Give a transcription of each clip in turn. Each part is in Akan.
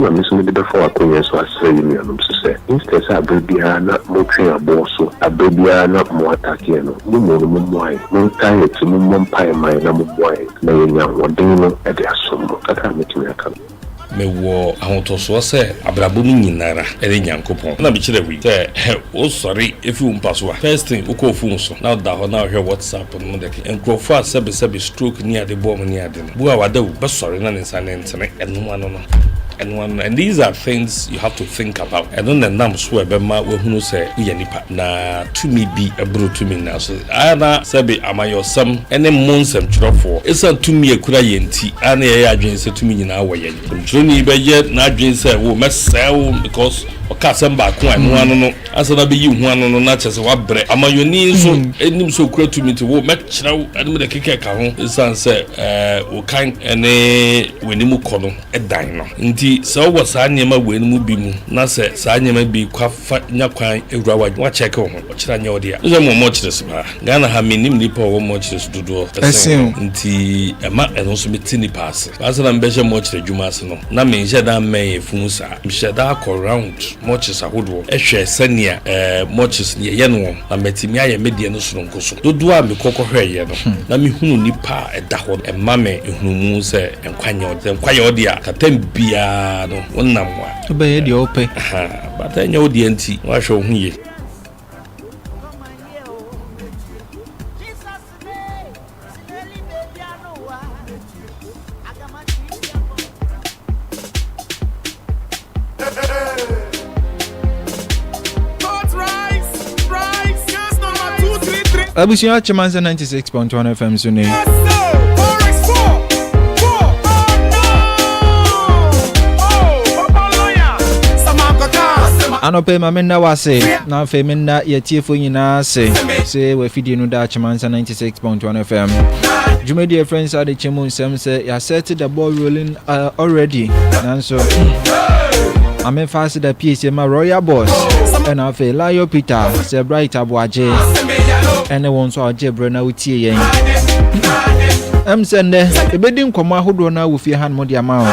Na me nso mede bɛfa w'akwannya so asrɛ yɛn nuanom nso sɛ, instead sɛ aberɛ biara na motwe aboɔ so, aberɛ biara na mo attack yɛn no, mo mmom no mommoa yɛn. Montaa yɛn akyi, mommɔ mpaeɛ mma yɛn na mommoa yɛn na yɛanya ahoɔden no de asom mo. Kakra a mɛtumi aka no. Mewɔ ahotɔsoɔ sɛ abrabɔ mu nyina ara ɛne Nyankopɔn. Ɛna mekyerɛ woi, sɛ wo sɔre firi wo mpa so a, first thing wo kɔ wo phone so na wo da hɔ na wo hwɛ WhatsApp no de ke nkurɔfoɔ a sɛbesɛbe stroke ni ade bɔɔ mo ni ade no, bu a wada wu, bɛsɔre na ne nsa no ntene ɛnom ano no. Ɛno ano, and these are things you have to think about, ɛno na ɛnam so a ɛbɛma woahunu sɛ woyɛ nipa, na tumi bi boro tumi nyinaa so. Ayɛ na sɛbe amanyɔsɛm ne mo nsɛmtwerɛfoɔ, ɛsiane tumi a ɛkura yɛn nti, ayɛ na yɛyɛ adwene sɛ tumi nyinaa wɔ yɛn. Nsɛmtwerɛni bɛyɛ n'adwene sɛ, oh, mɛsɛe wo because ɔka asɛm baako a ɛno ano no. Ansa na bɛyi wo ho ano no, na kyerɛ sɛ woabrɛ. Amanyɔni nso nim sɛ ɔkura tumi nti, wo, mɛkyerɛ wo anom deɛ ɛkeka ɛka ho. Ɛsiane sɛ wo kan ne w'anim kɔ no dan no nti, sɛ wowɔ saa nneɛma wei no mu bi mu na sɛ saa nneɛma bi kwa fa nya kwan wura w'adwene mu a, kyɛɛke wo ho. Ɔkyerɛ anyɛ wo dea. Wonim sɛ mewɔ mmɔkyerɛs paa. Ghana ha, mennim nnipa a wɔwɔ mmɔkyerɛs dodoɔ sen wo nti, ɛma ɛno nso mete nnipa ase. Ansa na mebɛhyɛ mmɔkyerɛ adwuma ase no, na menhyɛ da mmɛn afunu saa. Mehyɛ da kɔ round. Mɔkyes ahodoɔ hwɛ sɛnea mɔkyes deɛ yɛ no wɔ na matumi ayɛ me deɛ no sononko so. Dodoɔ a mekɔ kɔhwɛeɛ no, na mehunu nnipa a ɛda hɔ no, ɛma me nhunumu sɛ nkwa nyɛ ɔde. Sɛ nkwa yɛ ɔde a, tɛm biara no wonam a. Wobɛyɛ deɛ wopɛ. Ahaa, but ɛnyɛ wo deɛ nti, woahwɛ wo ho yie. abusua kyema nsɛ 96.1 fm so ne anɔpɛ ma menna wo ase na afei menna yɛtiefo nyinaa ase sɛ wafidie no daakye mansa 96.1 fm dwumadi a ɛfrɛ nsa adekyɛ mu nsɛm sɛ yɛasɛte the ball rolling uh, already nanso amefa ase da pie sɛ ma royal boss ɛna afei lio peter sɛ bright aboagye ɛne wɔn nso a ɔgye berɛ na wotie yɛn ɛm sɛ nnɛ ɛbɛdi nkɔmmɔ ahodoɔ no a wɔ fie ha no mu de ama wo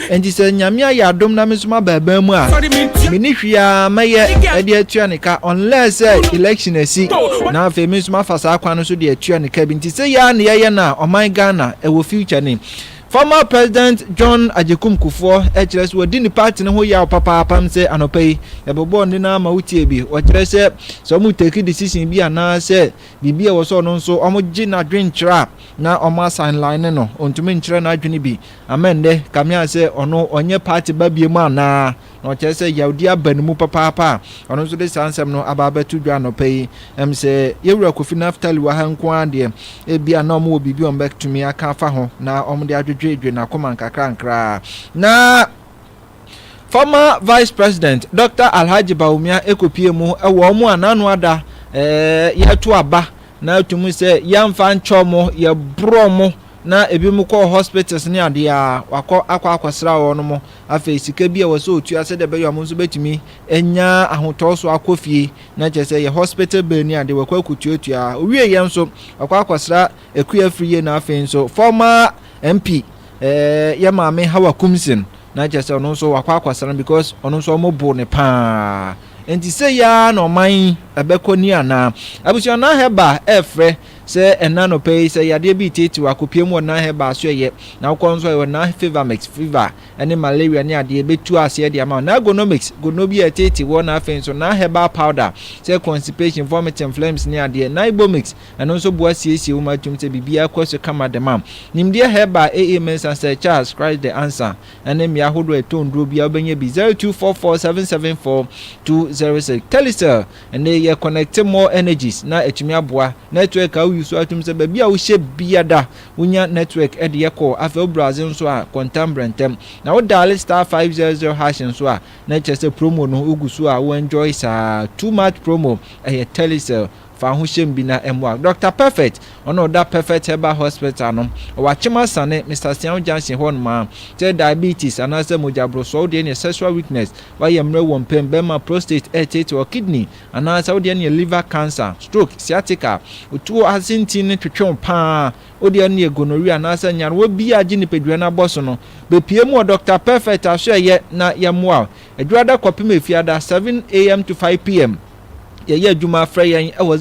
Enti sɛ Nyame ayɛ adom na me nso maba aban mu a, menni hwee a mɛyɛ de atua ne ka unless sɛ election asi na afei me nso mafa saa kwan no so de atua ne ka bi. Nti sɛ yɛa na yɛyɛ no a, ɔman Ghana ɛwɔ future ni. Former President John Agyekum Kufuor kyerɛ sɛ wɔdi ne party no ho yaw papaapa. M sɛ anɔpa yi yɛbɛbɔɔ ne no ama wotie bi. Wɔkyerɛ sɛ sɛ wɔn take decision bi anaasɛ biribi a ɛwɔ sɛ ɔno nso wɔgye n'adwenkyerɛ a na wɔn asan line no, ɔntumi nkyerɛ n'adwene bi. Amen ndɛ kame a sɛ ɔno ɔnyɛ party ba biemu anaa na ɔkyerɛ sɛ yawdi aba ne mu papaapa a ɔno nso de saa nsɛm no aba abɛto dwa anɔpa yi ɛm sɛ yɛwura Kofi Naftali wɔ ha nko ara deɛ ebia na ɔmo wɔ biribi ɔmo bɛtumi aka afa ho na ɔmo de adwedweedwe n'akoma nkakrankra na former vice president Dr. Alhaji Bawumia ɛkɔpie mu ɛwɔ ɔmo a n'ano ada ɛɛ yɛto aba na atum sɛ yɛmfa nkyɛ ɔmo yɛborɔ ɔmo Na ebinom kɔ hospitals ne adeɛ a, wɔakɔ akɔ akɔsra wɔn. Afei sika bi a ɛwɔ sɛ ɔtua sɛdeɛ ɛbɛyɛ a wɔn nso bɛtumi anya ahotɔ so akɔ fie. Na kyerɛ sɛ ɛyɛ hospital bill ne adeɛ wɔakɔ akɔtuatua. Ɔwieeɛ nso, wɔakɔ akɔsra Akua Afriyie na afei nso former MP eh, yɛn maame Hawa Kumsin. Na kyerɛ sɛ ɔno nso wɔakɔ akɔsra no because ɔno nso wɔbo no pa ara. Nti sei ara na ɔman yi ɛbɛkɔ nie anaa? Abusua Nahɛba ɛrefrɛ Sɛ ɛnnɛ anɔpa yi, sɛ yadeɛ bi reteetee wo a, kɔpie mu wɔ Nile Herbal so ɛyɛ, na wokɔ nso a yɛwɔ Nile Fevamix, fever ne malaria ne adeɛ, bɛtu aseɛ de ama wo. Nile Gonomix, gono bi a ɛteetee woɔ na afei nso Nile Herbal Powder, sɛ constipation, vomiting, phlegms ne adeɛ. Nile Ibomix, ɛno nso boa siesie wo ma tom sɛ biribiara kɔ so kama de ma wo. Nimdeɛ Herbal, AA Mensah, Sir Charles, Christ the Answer ne mmea ahodoɔ a ɛtɔn nnuro biara wobɛnya bi, 0244 774 206. Telecel. Ɛnde yɛ connecte more energies na atumi aboa network a wouse atom sɛ baabi a wohyɛ biada wonya network de yɛ call afei wo browse nso a kɔ ntɛm brɛntɛm na wo diale star five zero zero hash nso a na ɛkyerɛ sɛ promo no wogu so a wo enjoy saa too much promo ɛyɛ telecell fa ho hyɛm bi na ɛmmoa Doctor Perfect Ɔno ɔda Perfect Herbal Hospital no wɔ Akyem Asane, Mister Siaw Junction hɔ nom a. Sɛ diabetes anaasɛ mogyaborosoɔ wo deɛ neɛ sexual weakness, wayɛ mmerɛ wɔ mpam, bɛma, prostate ɛɛteete wɔ kidney, anaasɛ wo deɛ neɛ liver cancer, stroke, sciatica, otuo ase nti no twetwe wo pa ara, wo deɛ neɛ gonorrhea anaasɛ nyarewa bi a agye nipadua no abɔ so no, bɛpue mu wɔ Doctor Perfect asoɛeɛ na yɛmmoa wo. Adwuada kɔpem Efiada, 7 AM to 5 PM. yɛyɛ adwuma frɛ yɛn wɔ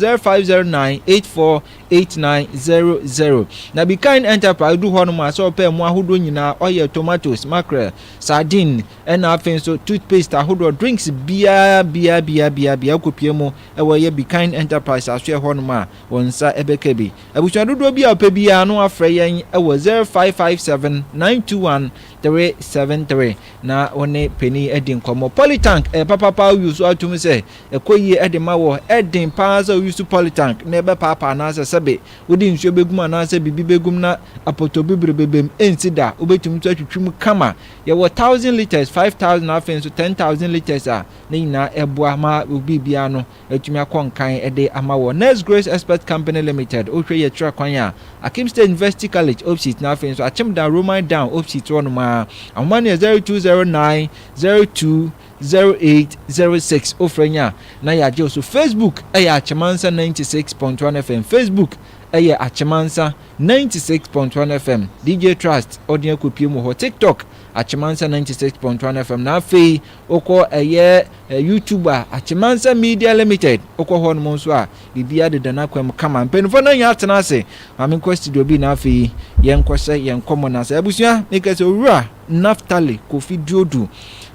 0509848900 na be kind enterprise du hɔ nom a sɛ ɔpɛ mu ahodoɔ nyinaa ɔyɛ tomatoes mackerel sardine ɛna afei nso toothpaste ahodoɔ drinks biara biara biara biara biara kɔpie mu ɛwɔ yɛ be kind enterprise asoɛ hɔ nom a wɔn nsa ɛbɛka bi abusua dodoɔ bi a ɔpɛ biara no afrɛ yɛn wɔ 05579219 three seven three na wo ne panin adi nkɔmmɔ. Polytank ɛyɛ papa paa woyi so atom sɛ ɛkɔ yie ɛde ma wɔ ɛden paa sɛ woyi so polytank na ɛbɛpaapa anaasɛ sɛbe wode nsuo bɛgum anaasɛ biribi bɛgum na apɔtɔbibire bɛbam ɛnsi da wobɛtumi nso atwitwi mu kama yɛwɔ thousand litres five thousand afei nso ten thousand litres a ne nyinaa ɛboa ma biribiara no atumi akɔ nkan de ama wɔ Nurse Grace Experts Company Limited, wohwɛ yi a ɛkyerɛ kwan a Akim State University College, Opsit, na afei nso Akyem Dan, Roman Down, Opsit hɔ nom ara. Ahoma no yɛ 0209 02 08 06, wofrɛ nya a na yɛagye wo so. Facebook yɛ Akyemansa 96.1 FM, Facebook yɛ Akyemansa 96.1 FM, DJ Trust ɔden akɔpie mu hɔ, TikTok Akyemansa 96.1 FM, na afei Wokɔ ɛyɛ YouTube a, Akyemansɛm Media Limited, wokɔ hɔ nom nso a, biribiara deda n'akwam kama. Mpanimfoɔ no nyɛ atena ase. Maame nkɔ studio bi na afei yɛnkɔhyɛ yɛn nkɔmmɔ no ase. Abusua, meka sɛ Owura Naftali Kofi Duodu,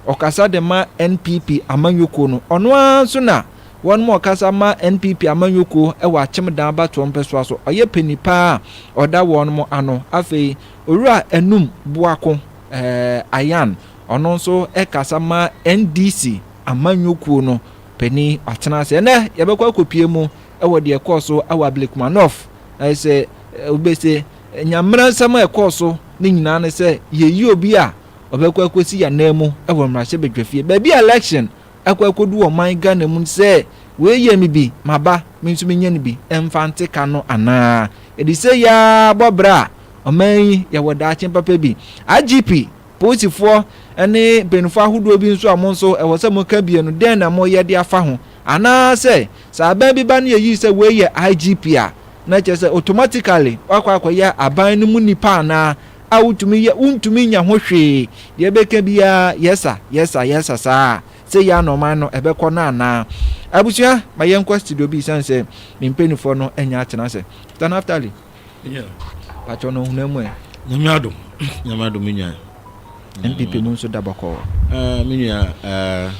ɔkasa de ma NPP amanyɔkuo no. Ɔno ara nso na wɔn mu ɔkasa ma NPP amanyɔkuo wɔ Akyemdan abatoɔ mpɛsoa so. Ɔyɛ panin paa a ɔda wɔn mo ano. Afei, Owura Anum Boako, ɛɛ, Ayan, Ɔno nso kasa ma NDC amanyɔ kuo no panin Ɔtena ase. Ɛnɛ yɛbɛkɔ akɔpue mu wɔ deɛ ɛkɔɔ so wɔ Ablekuma North. Ayɛ sɛ obe se Nyamena nsɛm a ɛkɔɔ so ne nyinaa ne sɛ yɛyi obi a ɔbɛkɔ akɔsi yɛn anan mu wɔ mmarahyɛ badwafie. Baabi a election akɔ akɔdu wɔ ɔman Ghana mu no sɛ wei yɛ me bi maba me nso menyɛ no bi mfa nte ka no anaa? Yɛde sei ara bɔ bra a ɔman yi yɛwɔ daakye papa bi. IGP. Polisifoɔ ne mpaninfoɔ ahodoɔ bi nso a mo nso ɛwɔ sɛ mo ka bie no dɛn na mo yɛ de afa ho? Anaa sɛ, sɛ aban bi ba ne yɛ yi sɛ wei yɛ IGP a, na kyerɛ sɛ automatically wakɔ akɔ yɛ aban no mu nipa anaa? A wo tumi yɛ, wo ntumi nya ho hwee, deɛ ɛbɛka biara yes sir, yes sir, yes sir saa a, sɛ yɛ a na ɔman no ɛbɛkɔ no anaa? Abusua ma yɛnkɔ studio bi ɛsiane sɛ me mpaninfoɔ no ɛnya atena ase. Tanaftali. Pakyɛ no ɔhunu amu ɛ. Nyame adom Nyame adom me nua. NPP mu nso da bɔkɔɔ. Uh, me nua uh,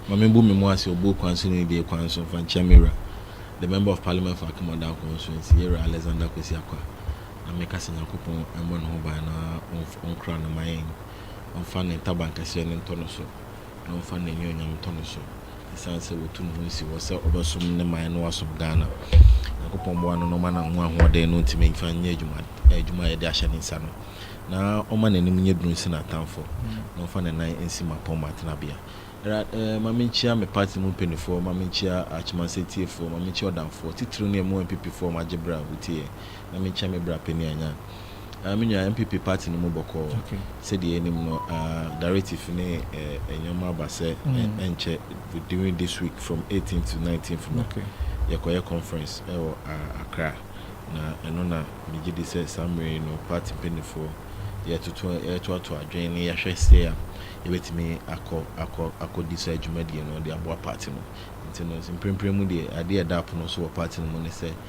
ma me bu me mu ase obuo kwan so ne die kwan so mfa nkyɛn me wura. The member of parliament for Akemodan constituency yɛwura Alexander Kwesi Akwa. Na me kasa Nyankopɔn ɛmmɔ ne ho ban na ɔnkora no ma yɛn. Ɔmfa ne ntaban kɛseɛ no ntɔ no so. na ɔmfa n'anuonyam ntɔ ne so ɛsiane sɛ watu ne ho asi hɔ sɛ ɔbɛsom ne man na wasom Ghana. Nyankopɔn mmoa no na ɔma no ho ahoɔden no ntumi mfa nyɛ adwuma adwuma a yɛde ahyɛ ne nsa no na ɔma n'anim nyɛ duru nsi n'atamfo na ɔmfa ne nan nsi mmapɔmma tenabea. Ɛra eh, ma menkyia me party mu mpanimfoɔ, ma menkyia Akyemansɛ tiefoɔ, ma menkyia ɔdamfoɔ, titiriw ne ɛmu MPPfoɔ a wɔagye berɛ a wotie yɛn. na menkyɛ me bra panyin a nyan ah me nua NPP party no mu bɔkɔɔ sɛdeɛ yɛnim no ah directive ne eh nneɛma aba sɛ eh ɛnkyɛ during this week from 18 to 19th no yɛkɔyɛ conference ɛwɔ ah Accra na ɛno na megye di sɛ saa mmerɛ yi no party mpaninfoɔ yɛtoto yɛtoato adwene ne yɛhwɛ sɛ a yɛbɛtumi akɔ akɔ akɔdi saa dwumadie no de aboa party no nti no mprempren mu deɛ adeɛ a ɛda apono so wɔ party no mu ne sɛ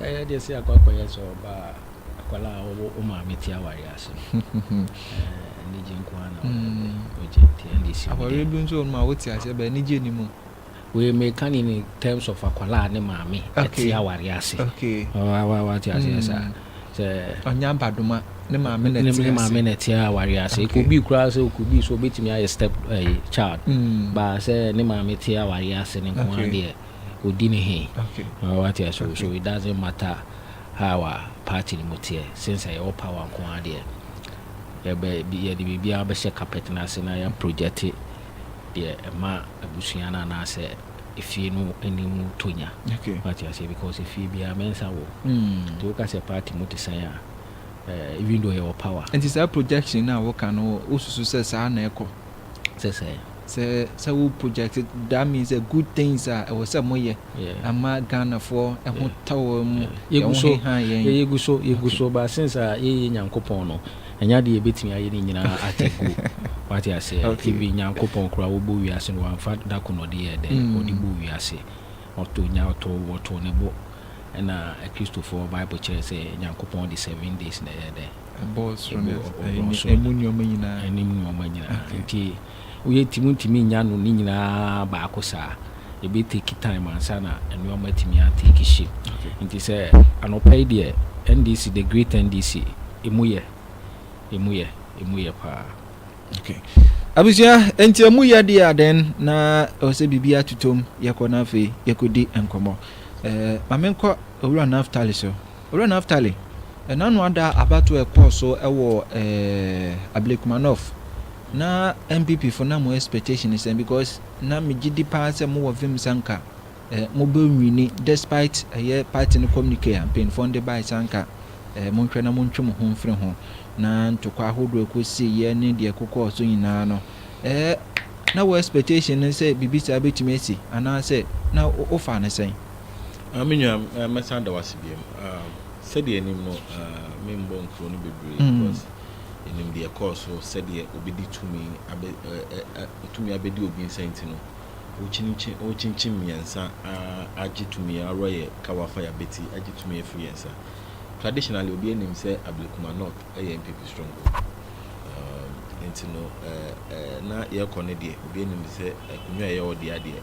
Ɛyɛ deɛ sɛ akɔ akɔyɛ sɛ ɔba a akwadaa a ɔwɔ wo maame ti awareɛ ase anigye nko ara na ɔyɛ dɛ ɔgye nti ɛnde si awareɛ bi nso wɔn a wote aseɛ bɛ anigye ni mu wei meka ne ne terms of akwadaa ne maame ɛte awareɛ ase wate aseɛ saa sɛ ɔnya abadoma ne maame na ɛte ase ne maame na ɛte awareɛ ase ekobi koraa sɛ okobi so obetumi ayɛ step child baa sɛ ne maame te awareɛ ase ne nko ara deɛ ɔdi ne he. Wate aseɛ? So it doesn't matter how a party no mu teɛ, since sɛ yɛwɔ power nko ara deɛ, yɛbɛ, yɛde biribiara bɛhyɛ carpet no ase na yɛ project deɛ ɛma abusua no anaasɛ efie no anim tɔ nya. Wate aseɛ? Because efie biara mɛnsa wɔ mu. Nti woka sɛ party mu te sɛn a, eh, even though yɛwɔ power. Nti saa projection no a woka no, wosusu sɛ saa na ɛkɔ? Te sɛ? Sɛ sɛ wo project that means sɛ good things a ɛwɔ sɛ mo yɛ ama Ghana foɔ ɛho tɔ wɔn mu yɛ ho heha yɛn. Yɛ yɛgu so yɛgu so but since a yɛ yɛ Nyankopɔn no ɛnyɛ adeɛ yɛbɛtumi ayɛ ne nyinaa at a go wate aseɛ even Nyankopɔn koraa wɔbɔ wiase no wamfa da ko na ɔde yɛɛ dɛn ɔde bɔ wiase ɔtɔ nya ɔtɔ wɔtɔ ne bo ɛna Kristofoɔ Bible kyerɛ sɛ Nyankopɔn de seven days na ɛyɛ dɛn Ɛbɔɔ soro ne asase, ɛmu nnoɔma nyinaa. Ɛnim nnoɔma nyinaa. Nti woyɛ ti wontumi nnya no ne nyinaa baako saa. Ɛbɛ take time ansa na nnoɔma atumi a take shape. Nti sɛ anɔpa yi deɛ NDC, the great NDC, ɛmu yɛ, ɛmu yɛ, ɛmu yɛ paa. Okay. Abusua, nti ɛmu yɛ deɛ a then na ɛwɔ sɛ biribi atutom yɛkɔ na afei yɛkɔdi nkɔmmɔ. Eh, ma menkɔ Owura Naftali so. Owura Naftali, ɛnano ada abatoɔ a ɛkɔɔ so wɔ eh, Ablekuma-North, na NPP fo na mo expectation ne sɛn? Because na me gyedi paa sɛ mo wɔ vim sɛ anka eh, mo bɛ nwini despite ɛyɛ party no communique a mpanyinfoɔ no de bae sɛ anka eh, mo nhwɛ na mo ntwe mo ho mfiri ho, na ntokwa ahodoɔ a ɛkɔ sii yɛ ne deɛ ɛkokɔɔ so nyinaa no eh, na wo expectation ne sɛ biribi saa bɛtumi asi, anaasɛ na wo faa no sɛn? Ah me nua eh, mɛsan da wase biam ah, sɛdeɛ anim no ah, membɔ nkuro no bebree mm. because ɛnim deɛ ɛkɔɔ so sɛdeɛ obi de tumi abɛ tumi abɛdi obi nsa nti no wokyinkyin mmiɛnsa agye tumi aworɔ yɛ kawafa yɛabɛti agye tumi afiri yɛn nsa traditionally obi anim sɛ ablekuma north ɛyɛ mpp stronghold um, nti no na yɛkɔ no deɛ obi anim sɛ akonwa ɛyɛ ɔdeɛ adeɛ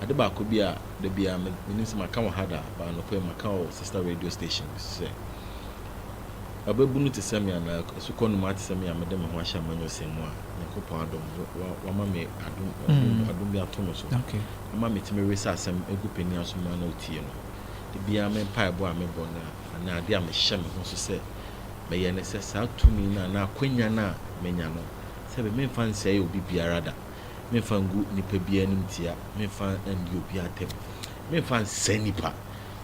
Ade baako bi a da biara me, menim sɛ maka wɔ ha da, but anɔpa yi maka wɔ sister radio station bi so sɛ, Ɔbabunu te sɛ me anaa asukɔ nnomaa te sɛ me a mede me ho ahyɛ amanyɔsɛm mu a, Nyankopɔn adom, wa, wama me adom, adom, adom bi ato me so Okay. ama metumi wesa asɛm gu panin aso ma na otie no. Da biara me mpaebɔ a mebɔ no a, anaa ade a mehyɛ me ho so sɛ mɛyɛ ne sɛ, saa tumi no anaa akwanya no a manya no, sɛ me, memfa nsɛe obi biara da. Memfa ngu nipa biara animtia, memfa ndi obiara atɛm. Memfa nsɛe nipa,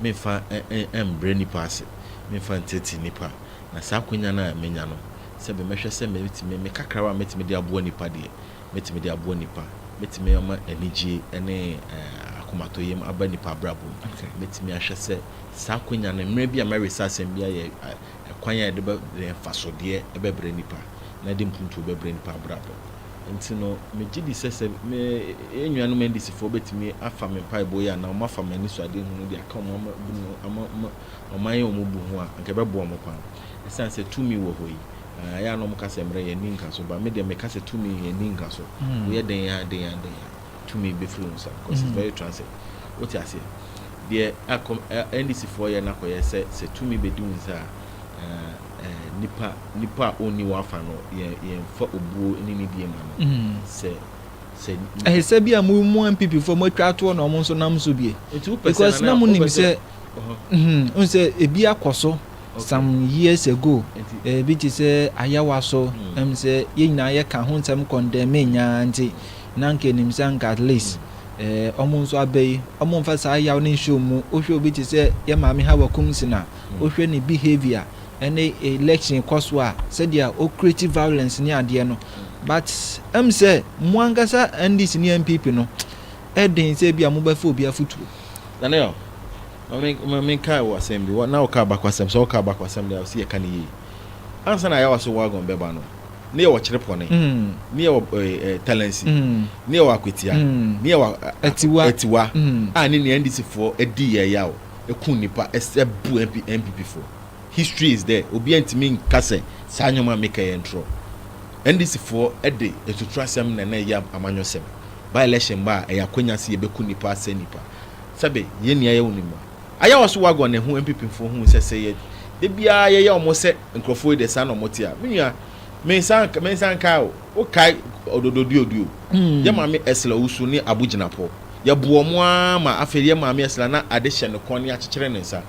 memfa mbrɛ nipa ase, memfa ntsetse nipa. Na saa akwanya no a menya no, sɛ bi mɛhwɛ sɛ mɛtumi, me kakrawa a mɛtumi de aboa nipa deɛ, mɛtumi de aboa nipa. Mɛtumi ama anigyie ne akomatɔyam aba nipa abrabɔ mu. Mɛtumi ahwɛ sɛ saa akwanya no, mmerɛ bi a mɛresa asɛm bi ayɛ kwan a yɛde bɛ, mfasodeɛ bɛbrɛ nipa, na yɛde mpuntuo bɛbrɛ nipa abrabɔ. Enti no, megye di sɛ sɛ me nuanom NDCfoɔ bɛtumi afa me mpaebɔ yi anaa wɔafa m'anisoadehunu de aka wɔn ama bu no ama ma wɔayɛ wɔn bu ho a, anka ɛbɛboa wɔn paa. Ɛsiane sɛ tumi wɔ hɔ yi, ah, ɛyɛ a na wɔka sɛ mmerɛ yɛ nni nkaso, ba me deɛ meka sɛ tumi yɛ nni nkaso. Woyɛ dɛn a, dɛn a, dɛn a. tumi bɛfiri wo nsam cause it's very transient wote aseɛ deɛ akɔm NDC foɔ yɛ nakɔyɛ sɛ sɛ tumi bɛdi wo nsa a nipa nipa a ɔnni wafa no yɛn yɛnfa obuo ne ne die ma no sɛ sɛ ɛsɛ bi a mo mu NPP foɔ mo atwa atoɔ na wɔn nso nam so bie because na mo nim sɛ n sɛ ebi akɔ so some years ago ebi te sɛ ayawa so ɛm sɛ yɛn nyinaa yɛ ka ho nsɛm kɔndɛm nyaa nti. Na anka enim sɛ anka at least eh, wɔn nso aba yi, wɔmfa saa yaw no nhyɛ wɔn mu. Wohwɛ obi te sɛ yɛn maame Hawa Kumsin a, wohwɛ ne behaviour ne election kɔ so a, sɛdeɛ o create violence ne adeɛ no. But ɛm sɛ mo ankasa NDC ne NPP no, ɛden sɛ ebi a mobɛfa obi afotuo. Daniel, ma me ma me nka wɔ asɛm bi. Wɔ na woka abakwasɛm, sɛ woka abakwasɛm deɛ, wɔ sɛ yɛka no yie. Ansa na Ayawa so wagon bɛba no, ne yɛwɔ kyerepɔne ne yɛwɔ talansi ne yɛwɔ akwatia ne yɛwɔ atiwa a ne nea ndc foɔ adi yɛ ya o eku nipa ɛsɛ bu npp foɔ history is there obi ntumi nka sɛ saa nneɛma mi kɛyɛ ntorɔ ndc foɔ ɛde etutu asɛm na na ɛyɛ amanyɔ sɛm by election ba a ɛyɛ akonya si yɛ bɛ ku nipa asɛ nipa sɛbe yɛ nea yɛ wɔ nimu a. Ayɛ wɔ so wagon ne ho mpipimfoɔ huu sɛ sɛ yɛ da biara yɛyɛ wɔn sɛ nkurɔfoɔ yi deɛ saa na wɔte a, me nua, me nsa nka, me nsa nkae o, wo kae Ododo Duoduo, yɛ maame Ursula Owusu ne Abu Gyinapoɔ, yɛ boɔ wɔn ara ma afei yɛ maame Ursula na ade hyɛ ne kɔn ne akyekyere ne nsa,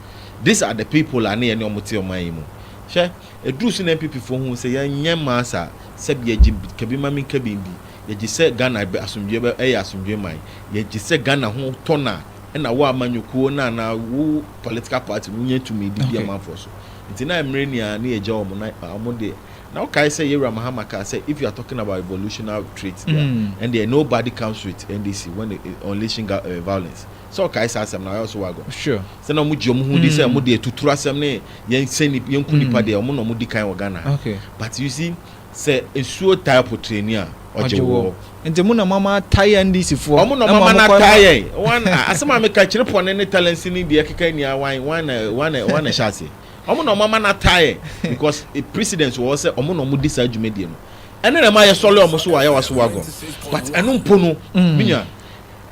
these are the people a ne yɛne wɔn te ɔman yi mu. Hwɛ, ɛduruu so na NPPfoɔ huu sɛ yɛn nyɛ mmaa saa, sɛbi yɛgye kabi ma me nkabi ndi, yɛgye sɛ Ghana bɛ, asomdwoeɛ bɛ, ɛyɛ asomdwoeɛ man, yɛgye sɛ Ghana ho tɔ no a, na wo amanyɔkuo no anaa wo political party no nya tumi de di amanfoɔ so nti na mmerɛ nyinaa ne yɛgya wɔn na wɔn deɛ na wokae sɛ yɛwura mahama kaa sɛ if you are talking about revolutionary traits there mm. and there nobody comes with ndc when it, uh, unleashing uh, violence sɛ ɔkae sɛ asɛm na ɔyɛ so wago sure. sɛ na wɔn gye wɔn ho di sɛ wɔn deɛ tuturu asɛm ne yɛn sɛ yɛn ku nipa mm. deɛ wɔn na wɔn di kan wɔ ghana okay. but you see Sɛ esuo tae potrɛni a, ɔgye woɔ. Nti mo na mo ama ataa yɛn NDC foɔ. Ɔmo na ɔmo ama no ataa yɛn. Wan a asɛm a meka kyere pɔne ne talents ne deɛ ɛkeka nni a wan wan na wan na wan na ɛhyɛ aseɛ. Ɔmo na ɔmo ama no ataa yɛn because precedence wɔ hɔ sɛ ɔmo na ɔmo di saa dwumadie no. Ɛno na ɛma yɛsɔle ɔmo so wɔ Ayawa so wagon. But ɛno mpo no me nua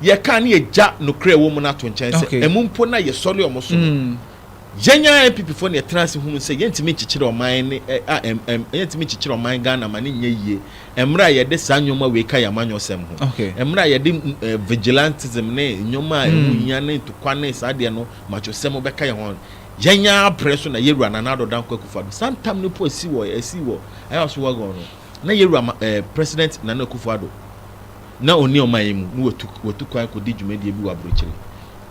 yɛka a ne yɛgya nokorɛ a ɛwɔ mu no ato nkyɛn sɛ ɛmu mpo no a yɛsɔle ɔmo so no Yɛn ara NPP foɔ na yɛtena ase hunuu sɛ yɛntumi nkyekyere ɔman ne a ɛm yɛntumi nkyekyere ɔman Ghana ma no nyɛ yie mmerɛ a yɛde saa nnoɔma wei ka yɛn amanyɔsɛm ho mmerɛ a yɛde vigilantism ne nnoɔma a ɛho nhia ne ntokwa ne saa deɛ no machosɛm bɛka yɛn ho Yɛn ara berɛ so na yɛwura Nana Addo Dankwa Akufo-Addo saa ntam no mpo asi wɔ asi wɔ Ayawaso Wagon no na yɛwura ma ɛɛ President Nana Akufo-Addo na ɔnni ɔman yi mu, na watu watu kwan rekɔdi dwumadie bi wɔ aburokyire.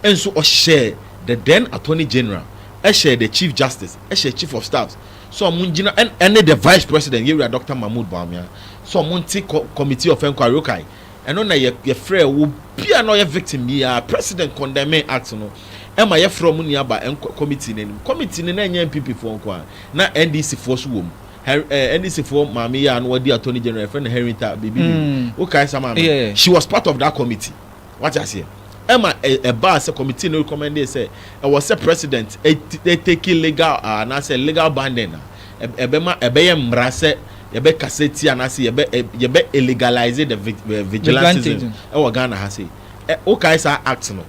Nso ɔhyɛɛ the then Attorney General, ɛhyɛɛ the Chief Justice, ɛhyɛɛ Chief of Staffs sɛ wɔn ngyina ɛn ɛne the Vice President, Yɛwura Doctor Mahmood Bawumia, sɛ wɔn nte kɔ Committee of Enquiry. Wokae? Ɛno na yɛ yɛfrɛɛ wɔ biara na ɔyɛ victim biara, President condemning act no, ɛma yɛfrɛɛ wɔn nyinaa baa ɛnkɔ committee no anim. Committee no na ɛnyɛ NPP foɔ nko ara, na NDC foɔ nso wɔ mu. Her eh, NDC foɔ maame yi a na wadi attorney general yɛfrɛ no Herinta biribi biribi. Mm. Wokae saa maame no? Yeah. She was part of that committee. Wate aseɛ? Ɛma ɛ- ɛbaa sɛ committee no recommended sɛ ɛwɔ sɛ president ɛt- ɛtake legal ah, anaasɛ legal binding a ɛb- ɛbɛma ɛbɛyɛ mmara sɛ yɛbɛkasa tia anaasɛ yɛbɛ ɛ- yɛbɛ illegalise the vig- eh, vigilantism Vigilantism. ɛwɔ Ghana ha sei. Ɛ- Wokae saa act no?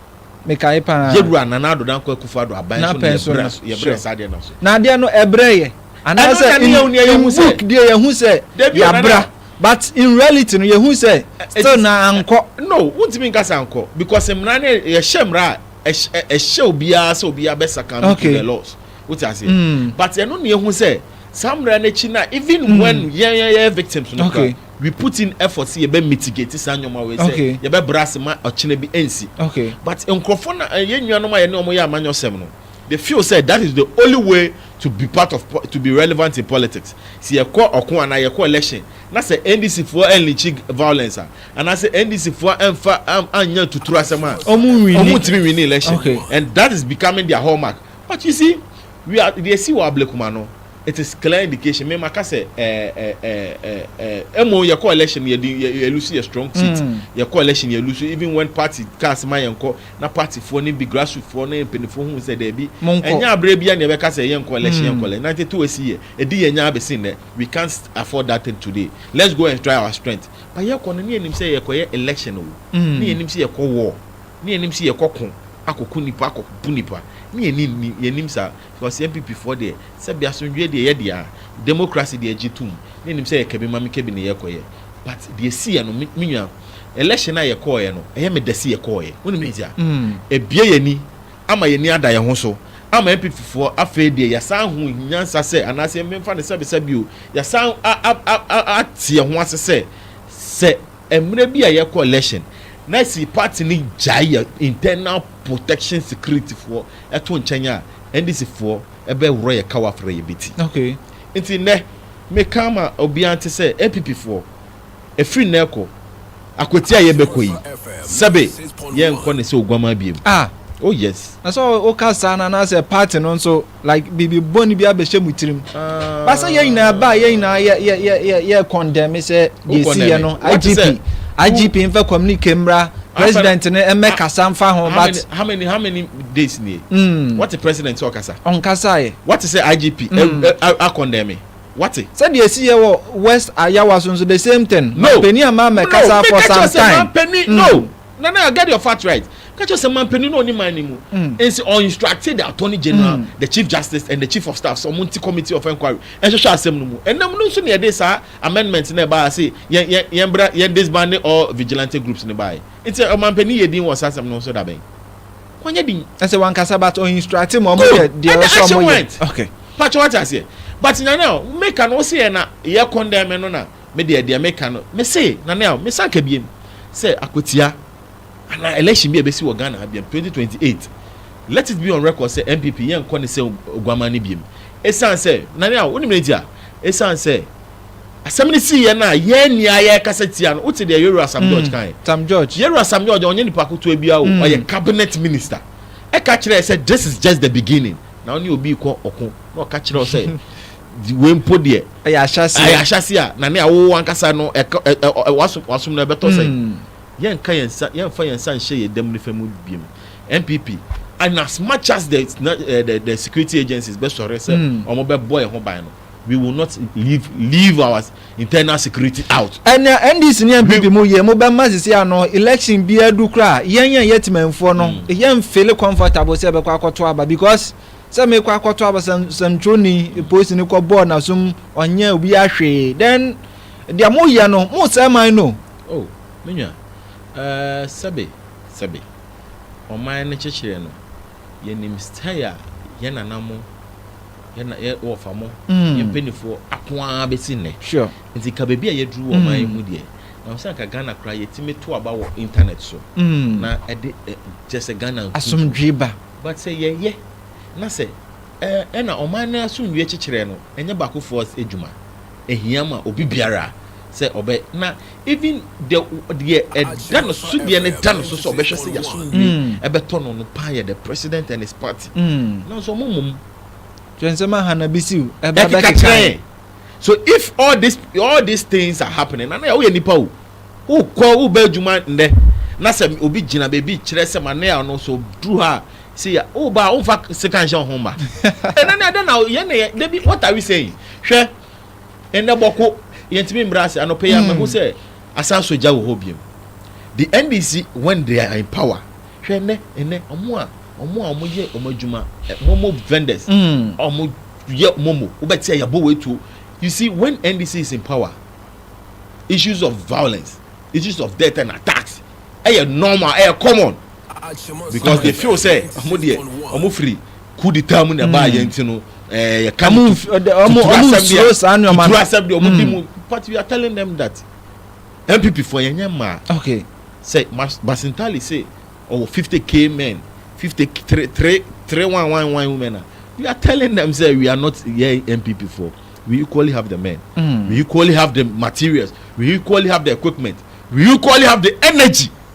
Mekae paa. Yewura Nana Addo Dankwa Akufo-Addo aban so na yɛbrɛ so, yɛbrɛ saa deɛ no so. Na adeɛ no ɛbrɛ yɛ. Anaasɛ in book deɛ yɛhu sɛ yɛabra but in reality no yɛhu sɛ still na ankɔ. No, wontumi nka sɛ ankɔ because mmara no yɛhyɛ mmara a ɛhyɛ obiara sɛ obiara bɛ succumb to the laws. Wote aseɛ? Hmm. But ɛno na yɛhu sɛ saa mmara no akyi no a even hmm. when yɛn yɛyɛ victims no kora We put in effort sɛ yɛbɛ mitigate saa nneɛma wei sɛ Okay. yɛbɛ bra ase ma ɔkyena bi ɛnsi. Okay. But nkorɔfoɔ no a yɛn nuanom a yɛne wɔn yɛ amanyɔsɛm no, they feel sɛ that is the only way to be part of po to be relevant in politics. Sɛ yɛkɔ ɔko anaa yɛkɔ election na sɛ NDC foɔ ɛnlikyi g violence a, anaasɛ NDC foɔ ɛnfa am annyɛ atuturu asɛm a, Ɔmo nwini. ɔmo ntumi nwini election. Okay. And that is becoming their hallmark. But you see, we are deɛ ɛsi wɔ Ablekuma no, It is clear indication me maka sɛ ɛɛɛɛɛɛ mmom yɛ kɔ election no yɛdi yɛ yɛ lose yɛ strong seat yɛ kɔ election yɛ lose even when party kaa sɛ ma yɛn kɔ na party foɔ ne bi grassroot foɔ ne mpaninfoɔ hu sɛ dɛbi ɛnyɛ abirɛ bia na yɛ bɛ ka sɛ yɛn kɔ election yɛn kɔ election ninety two esi yɛ ɛdi yɛ nyaa bɛsi nnɛ we can't afford that thing today let's go and try our strength but yɛ kɔ no ne yɛ nim sɛ yɛ kɔ yɛ election o ne yɛ nim sɛ yɛ kɔ war ne yɛ nim sɛ yɛ kɔ ko akɔ ko nipa akɔ bu nipa ne yɛ nim yɛ nim saa Because yɛn PP foɔ deɛ, sɛbi asomdwoeɛ deɛ yɛ dea, democracy deɛ gye tom, me nim sɛ yɛ kɛbi mame kɛbi ne yɛ kɔ yɛ, but deɛ ɛsi yɛ no, me me nua, election a yɛ kɔɔ yɛ no, ɛyɛ me dɛ se yɛ kɔɔ yɛ, wo nim ne ntia? Ɛbue yɛ ani, ama yɛ ani ada yɛ ho so, ama NPP foɔ afei deɛ yɛ san hu nyansa sɛ, anaasɛ me nfa no sɛbi sɛbi o, yɛ san a a a a a te yɛ ho ase sɛ, sɛ ɛmmerɛ bi a yɛ kɔ election, na si party no gyae yɛ internal protection security foɔ, ɛto nkyɛn a, NDC foɔ bɛ worɔ yɛ kawa frɛ yɛ beti. Okay. Nti nnɛ, me ka ama obiara nte sɛ NPP foɔ, ɛfiri nnɛ rekɔ, akwatia a yɛ bɛ kɔ yi, sɛbe yɛ nkɔ ne sɛ oguamaa biom. Ah! Oh yes. Na sɛ wo ka saa no anaa sɛ party no nso like biribi bɔne bi abɛ hyɛ mo tirim. Ba sɛ yɛ nyinaa ba a yɛ nyinaa yɛ yɛ yɛ yɛ yɛ condemn sɛ deɛ ɛsi yɛ no. IGP, IGP nfa communique mmra. President no ɛmɛ kasa nfa ho but. How many how many how many days nie? Mm. What the president sɛ ɔkasa? Ɔnkasa yɛ. What sɛ IGP mm. ɛ ɛ akɔndɛmi? What? Sɛdeɛ esi yɛ wɔ West Ayawa so nso the same thing. No. Mampanin a maa mɛ kasa for some time. Mampanin no. Mm. No, no, get your fact right. Catch us a man penny no man anymore. Mm. And so or instructed the attorney general, mm. the chief justice, and the chief of staff, some multi committee of inquiry. And so shall assemble no more. And no, no, so near this, sir. Amendment na ɛbaa se yɛn yɛn yɛn bra yɛn disbande all vigilante groups no baae. Nti ɔmanpanin yɛ din wɔ saa asɛm no ho so da bɛn? Wanyɛ din. Ɛsɛ wankasa but ɔ instructe ma ɔmo yɛ Good! deɛ And the ɔsɛ action ɔmo yɛ. went. Okay. Pacho wate aseɛ? But Nana a, meka no wose yɛ na yɛ condemn no na medeɛ deɛ meka no mese Nana a, mesan ka biem sɛ akwatia. Anaa election bi a ɛbɛsi wɔ Ghana ha biam twenty twenty eight, let it be on record sɛ NPP yɛnkɔ ne sɛ Oguaman no biam. Ɛsiane sɛ, Nane a, wonim neti a? Ɛsiane sɛ asɛm no siiɛ no a yɛanni a yɛrekasa tia no. Wote deɛ Yero Asam George kaeɛ? Tam George. Yero Asam George deɛ ɔnyɛ nipa ketewa biara o, ɔyɛ cabinet minister. Ɛka kyerɛɛ sɛ this is just the beginning. Na wo ne obi rekɔ ɔko na ɔka kyerɛ wo sɛ wei mpo deɛ Ɛyɛ ahyɛaseɛ. ɛyɛ ahyɛaseɛ a, Nane a, wo ankasa no ɛka ɛ ɛ ɛ wasom wasom no ɛbɛtɔ sɛn? Yɛnka yɛn nsa, yɛnfa yɛn nsa nhyɛ yɛn dam nifa mu biom. NPP, and as much as the eh, the, the security agencies bɛ sɔre sɛ wɔn hmm. bɛ bɔ yɛn ho ban no, we will not leave leave our internal security out. ɛnna ndc ne npp mu yɛ mo bɛ ma sisi ano election bi adu kura yɛn yɛn yɛ tìmɛnfoɔ no hmm. yɛn feel comfortable sɛ ɛbɛkɔ akɔto aba because sɛ mekɔ akɔto aba sɛmtwoni polisi ne kɔ bɔɔl na sum ɔnyɛ obi ahwee then deɛ mo yɛ no mo sɛ man no. O, me nua, ɛɛ, sɛbe, sɛbe, ɔman no kyekyeree no, yɛnim style a yɛn nana mo, yɛn na, yɛn wɔfa mo, yɛn mpanimfoɔ ako ara bɛsi nnɛ. Sure. Nti ka baabi a yɛaduru wɔ ɔman yi mu deɛ, ɛwɔ sɛ anka Ghana koraa yɛtumi to aba wɔ internet so na ɛde ɛ, kyerɛ sɛ Ghana nkuntun. Asomdwoe ba. But sɛ yɛyɛ na sɛ, ɛɛ, ɛna ɔman no asomdwoeɛ kyekyerɛ no, ɛnyɛ baakofoɔ adwuma. Ehia ma obi biara sɛ ɔbɛ na even deɛ deɛ ɛda no so deɛ no da no so sɛ ɔbɛhwɛ sɛ yasomdwe mm. ɛbɛtɔ no no paa yɛ the president and his party mm. nanso ɔmo mmom. kyerɛ nsɛm aha na bi siw ɛba bɛkeka kyerɛ so if all this all these things are happening na na yɛ woyɛ nipa o wokɔ wobɛ adwuma nnɛ na sɛ obi gyina baabi kyerɛ sɛ ma ne a ɔno so duru ha See ya wo ba a wo nfa sika nhyɛ ho ma ɛnɛ na ɛdɛ na yɛn na yɛn dabi what are we saying hwɛ ɛnɛ bɔko yɛn ti mi mbra ase anɔpɛ yɛn amahu sɛ asan so gya wɔ hɔ biem the ndc when they are in power hwɛ ɛnɛ ɛnɛ ɔmo a ɔmo a ɔmo yɛ ɔmo adwuma momo vendors ɔmo yɛ momo wobɛ ti a yabɔ wɔ etuo you see when ndc is in power issues of violence issues of death and attacks ɛyɛ normal ɛyɛ common. because they feel sɛ ɔmo deɛ ɔmo firi coup d'etat mu na ɛbaa hmm. yɛn nti no ɛɛ eh, yɛ ka no tuturu asɛm bi a tuturu asɛm bi a ɔmo di mu hmm. but we are telling them that npp fo yɛn nyɛ mmaa okay sɛ basintali sɛ ɔwɔ fifty k men fifty three three three one one one women na we are telling them say we are not yɛ npp fo we equally have the men mm. we equally have the materials we equally have the equipment we equally have the energy.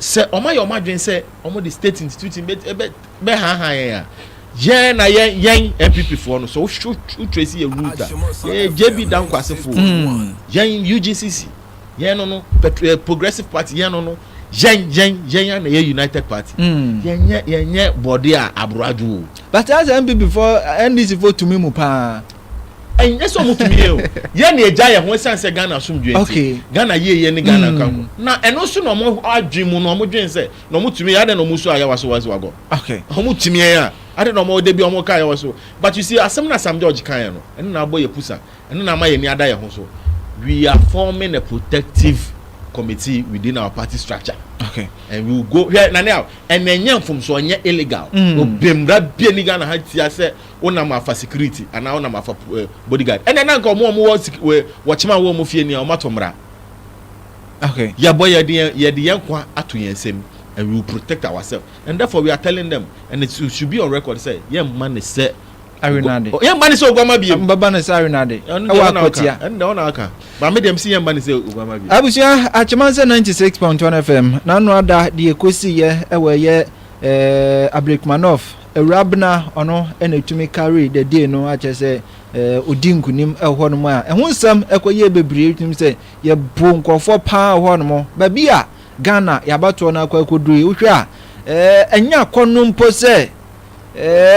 sɛ wɔayɛ wɔn adwene sɛ wɔde state institution bɛhaahaa yɛn a yɛn na yɛn yɛn npp foɔ no sɛ wohwɛ tracy yɛ root a yɛyɛ jb dankwasefoɔ hmm. yɛn ugcc yɛn no no eh, progressive party yɛn no no yɛn yɛn yɛn yɛn na yɛ united party hmm. yɛn yɛ yɛn yɛ bɔde a aboro adwo o. bàtà sɛ npp fɔ ndc fɔ tumi mu paa. ɛnyɛ sɛ ɔmo tumi yɛ o yɛ ne agya yɛ ho ɛsan sɛ ghana asomdwe nti ghana yie yɛ ne ghana nka ho na ɛno nso na ɔmo adwene mu na ɔmo dwen sɛ na ɔmo tumi yɛ adɛ na ɔmo nso ayɛ waso waso agɔ ɔmo tumi yɛ a adɛ na ɔmo ɔde bi ɔmo ka yɛ waso but you see asɛm na sam george kan yɛ no ɛno na abɔ yɛ pusa ɛno na ama yɛ ni ada yɛ ho so we are forming a protective committee within our party structure okay and we will go hwɛ nane a ɛna ɛnyɛ mfomso ɛnyɛ illegal obemra bie ni ghana ha tia sɛ wonam afa security anaa wonam afa body guard ɛnɛ na nka ɔmo ɔmo wɔ wɔkyema wɔ ɔmo fie nea ɔmo ato mmara okay yɛbɔ yɛde yɛn yɛde yɛn kwa ato yɛn nsam and we will protect ourselves and therefore we are telling them and it should be on record sɛ yɛn mma ne sɛ arenade yɛn mma ne sɛ oguama bie mbaba ne sɛ arenade ɛwɔ akɔtia ɛnna ɔna aka maame deɛ msi yɛn mma ne sɛ oguama bie abusua akyema nsɛ ninety six point one fm n'ano ada deɛ ekosi yɛ ɛwɔ ɛyɛ ɛɛ eh, abirikumanɔf Awurabena ɔno na ɛtumi carry the day no akyɛ sɛ ɔdi nkunim ɛhɔ nom a ɛho nsɛm ɛkɔ yie bebree ɛtumi sɛ yɛbo nkurɔfoɔ paa ɛhɔ nom baabi a Ghana yɛabatoɔ no akɔ akɔduru yi wohwɛ a ɛnyɛ akɔno mpo sɛ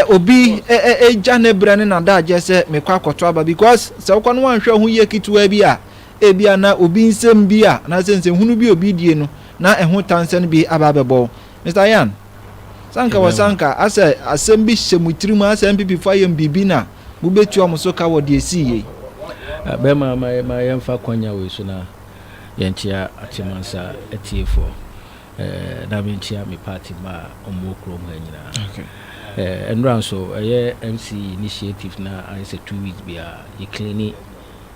obi ɛgya ne berɛ ne nadagyeɛ sɛ mekɔ akɔto aba because sɛ wokɔ no wanhwɛ ho yie ketewa bi a ebia na obi nsɛm bi a anaasɛ nsɛnhunu bi obi die no na ɛho tansɛn bi aba abɛbɔ Mister Yan, sɛ anka wɔ sɛ anka asɛ asɛm bi hyɛ mo tirim a sɛ NPP fo ayɛ mo biribi na mobetua wɔn so ka wɔ deɛ esii yei? Bɛma ma ma yɛmfa kwanya wei so na yɛnkyea Akyɛmansa atiefoɔ na menkyea me party mma a wɔwɔ kurom ha nyinaa. Okay. Nnora nso ɛyɛ MC initiative na ayɛ sɛ two weeks biara yɛ cleani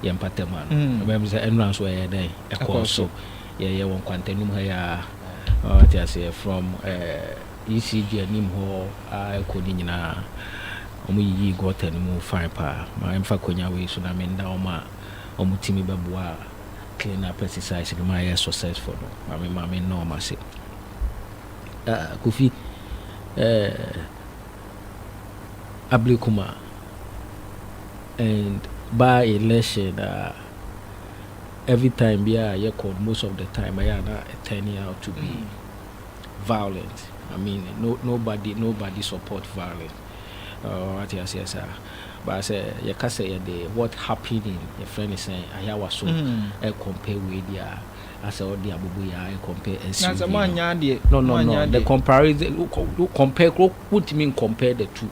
yɛn mpatamu ano. Mm. Ɛbɛn sɛ nnora nso ɛyɛ dɛn ɛkɔɔ so. Yɛyɛ wɔ nkwantanim ha yi ara. Wate aseɛ? From eh, ECG anim hɔ ara kɔ ne nyinaa. Wɔn yiyii gutter no mu fine paa. Ma yɛmfa akwannya wei so na me nna wɔn a wɔn tumi bɛboa clean up exercise no ma ayɛ successful no. Ma me, ma me nna wɔn ase. Ah, Kofi, eh, Ablikuma and by election ah. Every time biara a yɛkɔ no most of the time ɛyɛ a na ɛ turn out to be violent, I mean no nobody nobody support violent oh wate aseɛ saa but sɛ yɛka sɛ yɛde what happened in yɛfrɛ no sɛn Ayawa so ɛ compare wei deɛ a asɛ ɔde abobo yɛ a ɛ compare SUV Nansɛ mo annya adeɛ no no no the comparison wo compare koro wontumi ncompare the two.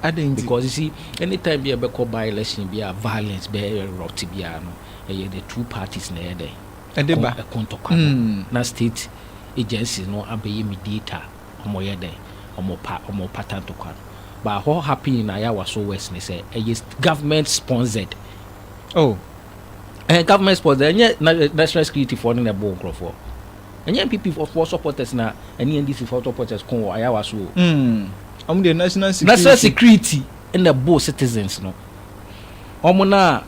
Adɛn nti? Because you see, any time bi a ɛbɛkɔ by election bi a violence bɛ erupt biara no, ɛyɛ the two parties na ɛyɛ dɛn? Ɛde ba. Ɛko ntɔkwa no. Na state agencies no abɛyɛ mediator, wɔn yɛ dɛn? Wɔn pa, wɔn pata ntɔkwa no. But what happen in Ayawaso West ne sɛ, ɛyɛ government sponsored. Oh. Ɛyɛ government sponsored, ɛnyɛ na, national security foɔ no na ɛbɔ nkorɔfoɔ. Ɛnyɛ NPP foɔ supporters na ɛne NDC foɔ supporters ko wɔ Ayawaso o. Ɔmo deɛ national security. National security na ɛboo citizens no. Ɔmo no a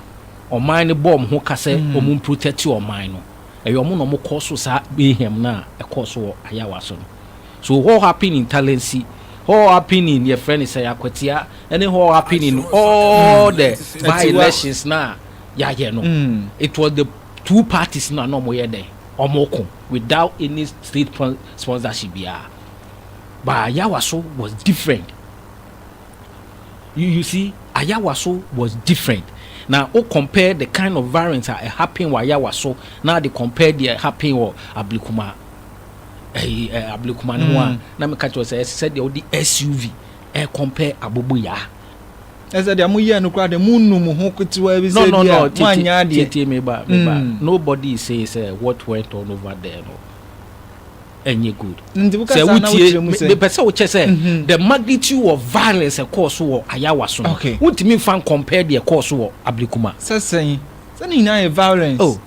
ɔman no bɔ ɔmo ho ka sɛ ɔmo protɛte ɔman no, ɛyɛ ɔmo na ɔmo kɔɔ so saa mayhem no a ɛkɔɔ so wɔ Ayawa so no. So hɔ happen in Talensi, hɔ happen in yɛfrɛ no sɛn, Akwatia, ɛne hɔ happen in all the by elections no a yɛayɛ no. It was the two parties no a na ɔmo yɛ dɛn, ɔmo ko without any state sponsorship biara. but Ayawaso was different. You, you see, Ayawaso was different. Now, o compare the kind of violence that happened with Ayawaso, now they compare the happened with Ablikuma. Eh, eh, Ablikuma no one. Hmm. Now me catch you say, said the SUV, eh, compare Abobo ya. ɛsɛ deɛ moyɛ no koraa deɛ monnu mo ho ketewa bi sɛ bi a moanyɛ adeɛ nobody say sɛ what went on over there no ɛnyɛ good sɛ wotie mepɛ sɛ wokyɛ sɛ mhm. the magnitude of violence ɛkɔɔ so wɔ ayawa so no wontumi mfa nkɔmpɛ deɛ ɛkɔɔ so wɔ abirikuma sɛ sɛn sɛ ne nyinaa yɛ violence oh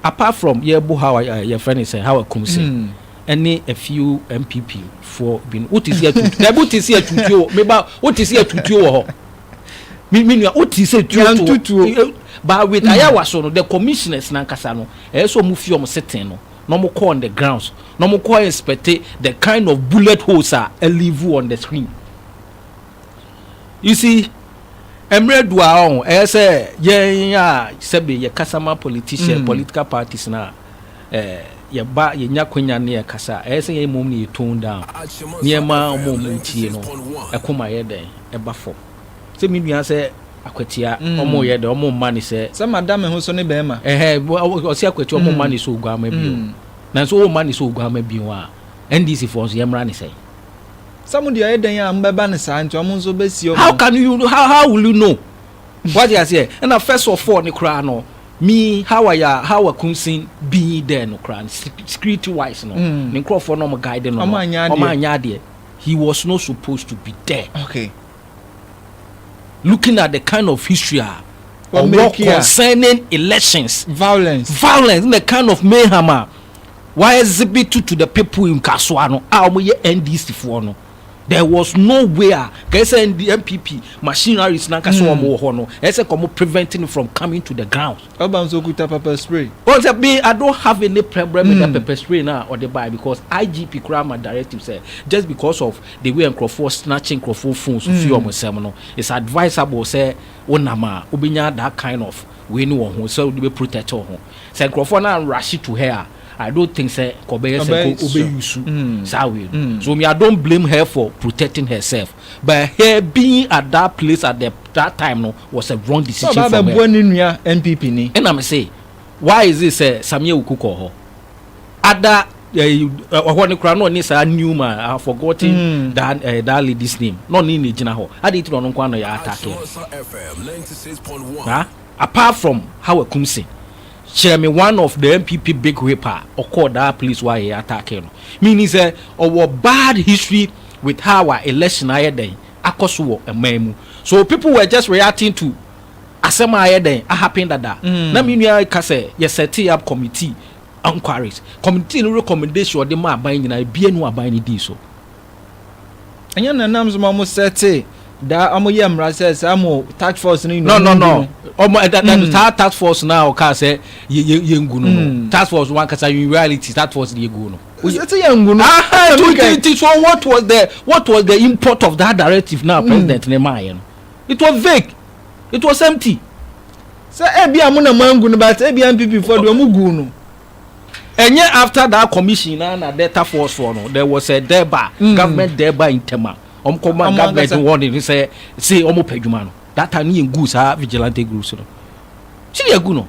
apart from yɛbo how eh, yɛfrɛ ne sɛ how akum sɛ hmm. ɛne a few mpp foɔ bi no wote si atutu dɛbi wote si atutuo meba wote si atutuo wɔ hɔ me me nua wote si atutuo eh, but with hmm. ayawa so no the commissioners nankasa no ɛyɛ sɛ ɔmo fi ɔmo seten no na ɔmo kɔ on the grounds na ɔmo kɔ inspecte the kind of bullet holes a ɛlivu on the screen you see ɛmmerɛ du a ɔn ɛyɛ sɛ yɛn a sɛbe yɛ kasa ma politician mm. political parties na ɛɛ yɛba yɛnya kwanya ne yɛ kasa ɛyɛ sɛ yɛn mmom ne yɛ tone down nneɛma ɔmo ɔmo tie no ɛko ma yɛ dɛn ɛba fam. Sɛ me nua sɛ akwatia ɔmo yɛ dɛ ɔmo mma ne sɛ. Sɛ ma da me ho so ne bɛɛma. Ɛhɛ ɔse akwatia ɔmo mma ne sɛ oguama bio nanso ɔmma ne sɛ oguama bio a NDC foɔ nso yɛ mmra ne sɛn. Sɛ mo deɛ ɔyɛ dɛn a mo bɛba ne saa nti ɔmo nso bɛ si ɔmo. How can you how how will you know wate aseɛ ɛna first of all ne koraa no me how I how I kun sin being there no koraa no security wise no ne nkorɔfoɔ no ɔmo guide no no ɔmo anyɛ adeɛ he was not supposed to be there. Okay. looking at the kind of history a ɔwɔ concerning elections violence violence na kind of mayhem a wa exhibit to the people in kasoa no a wɔn yɛ ndc foɔ no there was no way a kɛsɛ npp machineries na nkasa wɔn wɔ hɔ no ɛsɛ kɔn preventing from coming to the ground. Ɔba nso okuta pepper spray. Ɔn sɛ me I don't have any problem with that pepper spray no a ɔde bae because IGP koraa ma directive sɛ just because of the way a nkorɔfoɔ snatch nkorɔfoɔ phones fi wɔn nsam no it's advisable sɛ wo nam a wobɛnya that kind of wei no wɔ ho sɛ wode bɛ protect wo ho. Sɛ nkorɔfoɔ no anrush to her a I don't think sɛ nka ɔbɛyɛ sɛ nka wobɛ use saa wei no so me I don't blame her for protecting herself. but her being at that place at the that time no was a wrong decision for her. Sọ ọba abẹboa ne nua NPP ni. Ẹna mi se why is it sẹ Samia Wuku kọ họ ada ọhọ ne kura na ọne saa Newman I have forgotten mm. that, uh, that lady's name na ọne ne gyina họ adi ti na ọno nkwa na yẹ atake na apart from how akumse kyerɛ me one of the npp big whip a ɔkɔɔ that place wɔ a yɛ atake no meaning sɛ ɔwɔ bad history with how a election ayɛ dɛn akɔ so wɔ man mu so people were just reacting to asɛm a ayɛ dɛn ahappen dada na me nua reka sɛ yɛ set up committee inquiries committee no recommendation ɔde ma aban nyinaa ebie no aban no dii so. Ɛnyɛ na nam sɛ wɔn sɛte daa wɔn yɛ mmara sɛ saa mo task force no nyinaa no no wɔn ɛda da saa task force no a ɔkaa sɛ yɛ yɛ yɛngu no no task force no ankasa in reality task force no yɛgu no. Sisi yɛn ngu no. Aha to ti ti so what was the what was the import of that directive na hmm. president ne maa yɛ no? It was vague. It was empty. Sɛ ebi a mo na mo angu no but ebi a NPP fo deɛ mo gu no. Ɛnyɛ after that commission na na Delta Force fo no there was a deba mm. government deba ntɛma wɔn kɔ ma government warning sɛ se wɔn pɛ adwuma no that time ne yɛn gu saa vigilante groups no. Ti yɛ gu no.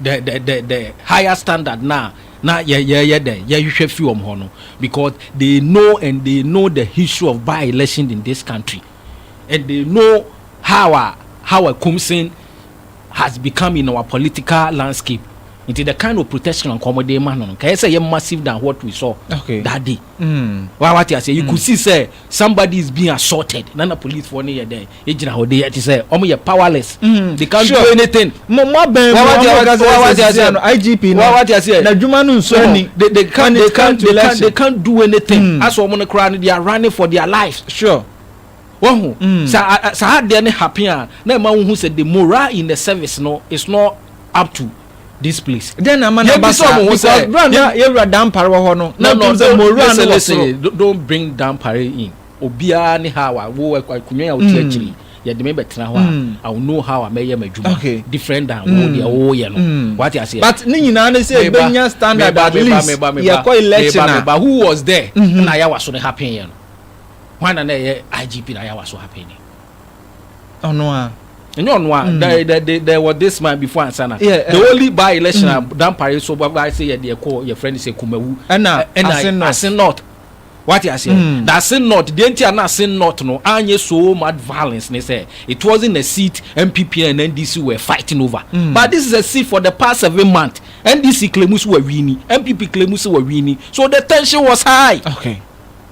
the the the the higher standard na na yɛ yɛyɛ dɛ yɛhwehwɛ fi wɔn hɔ no because they know and they know the history of by election in this country and they know how a how a kumsin has become in our political landscape nti the kind of protection nkɔmɔ de ma no no kɛyɛ sɛ yɛ massive than what we saw okay. that day. Wa wate aseɛ you could see sɛ somebody is being assaulted na na police foɔ no yɛ dɛn egyina hɔ de yɛ te sɛ wɔn yɛ powerless they can't do anything. Mo mo abɛn mu wɔn mo wɔn aseɛ no IGP no wɔn aseɛ na adwuma no nso ni they they can't they can't they can't they can't do anything asɔ wɔn no koraa no they are running for their lives. Sure. Wahu saa saa adeɛ no happen a na ɛma wohu sɛ the morale in the service no is not up to. this place. dɛn na ama na ba saa because bra na yɛwura dampare wɔ hɔ no na ɔtum sɛ mowura no wɔ soro. don't bring dampare in obiara ne how a wo akonnwa a wote akyiri yɛde me bɛtena hɔ a i will know how a mɛyɛ m'adwuma different than wo deɛ woyɛ no wate aseɛ but ne nyinaa ne sɛ ɛbɛnya standard at least yɛkɔ election a meba who was there na ayawa so no happen yɛ no hwan na na ɛyɛ igp na ayawa so happen yɛ ɔno a ɛnyɛ ɔno a mm. the the the there was this man before ansana yeah, the uh, only by election mm. dampare so by sɛ yɛ deɛ kɔ yɛ friend sɛ kumawu ɛna ɛna ase north wate aseɛ mm. na ase north deɛ nti a na ase north no anyɛ so much violence ne sɛ it wasn't a seat npp and ndc were fighting over mm. but this is a seat for the past seven months ndc claims were winning npp claims were winning so the tension was high. okay.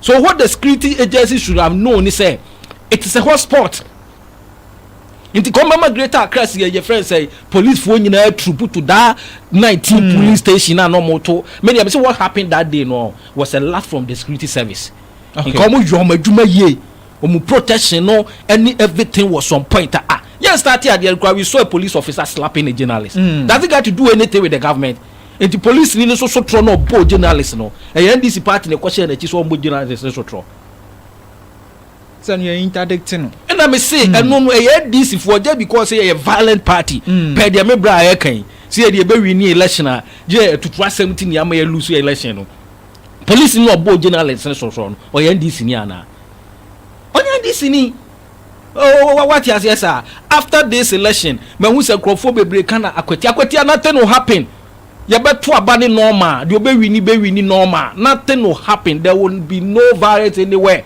So what the security agency should have known ne sɛ it is a hot spot nti kɔn bɛma greater accra si yɛyɛ fɛn sɛ policefoɔ nyinaa turupu to daa nineteen hmm. polling station a na wɔn to me deɛ sɛ what happened that day no was a lot from the security service nka wɔn yɔ wɔn adwuma yie wɔn protection no ɛne everything was on point a ah, yɛn start adeɛ nkura we saw a police officer slapping a journalist mm. does it got to do anything with the government. Enti polisini no so sotorɔ na ɔbɔɔ journalist no. Ɛyɛ NDC party na ɛkɔhyɛɛ n'akyi sɛ ɔmmɔ journalist no sotorɔ. Sɛ no yɛ interdict no. Ɛna me se ɛno no ɛyɛ NDC foɔ just because sɛ yɛyɛ violent party pɛɛ deɛ me bra a ɛka yi sɛ yɛde yɛbɛ winnie election a gyɛ atutu asɛm nti nea ama yɛ lose election no. Polisini na ɔbɔɔ journalist no sotorɔ no ɔyɛ NDC ni anaa? Ɔnyɛ NDC ni. Oh wate aseɛ saa after this election mahu sɛ nkurɔfoɔ bebree ka na akwatia akwatia nothing will happen yɛbɛto aba ne normal deɛ ɔbɛwini bɛwini normal nothing will happen there will be no violence anywhere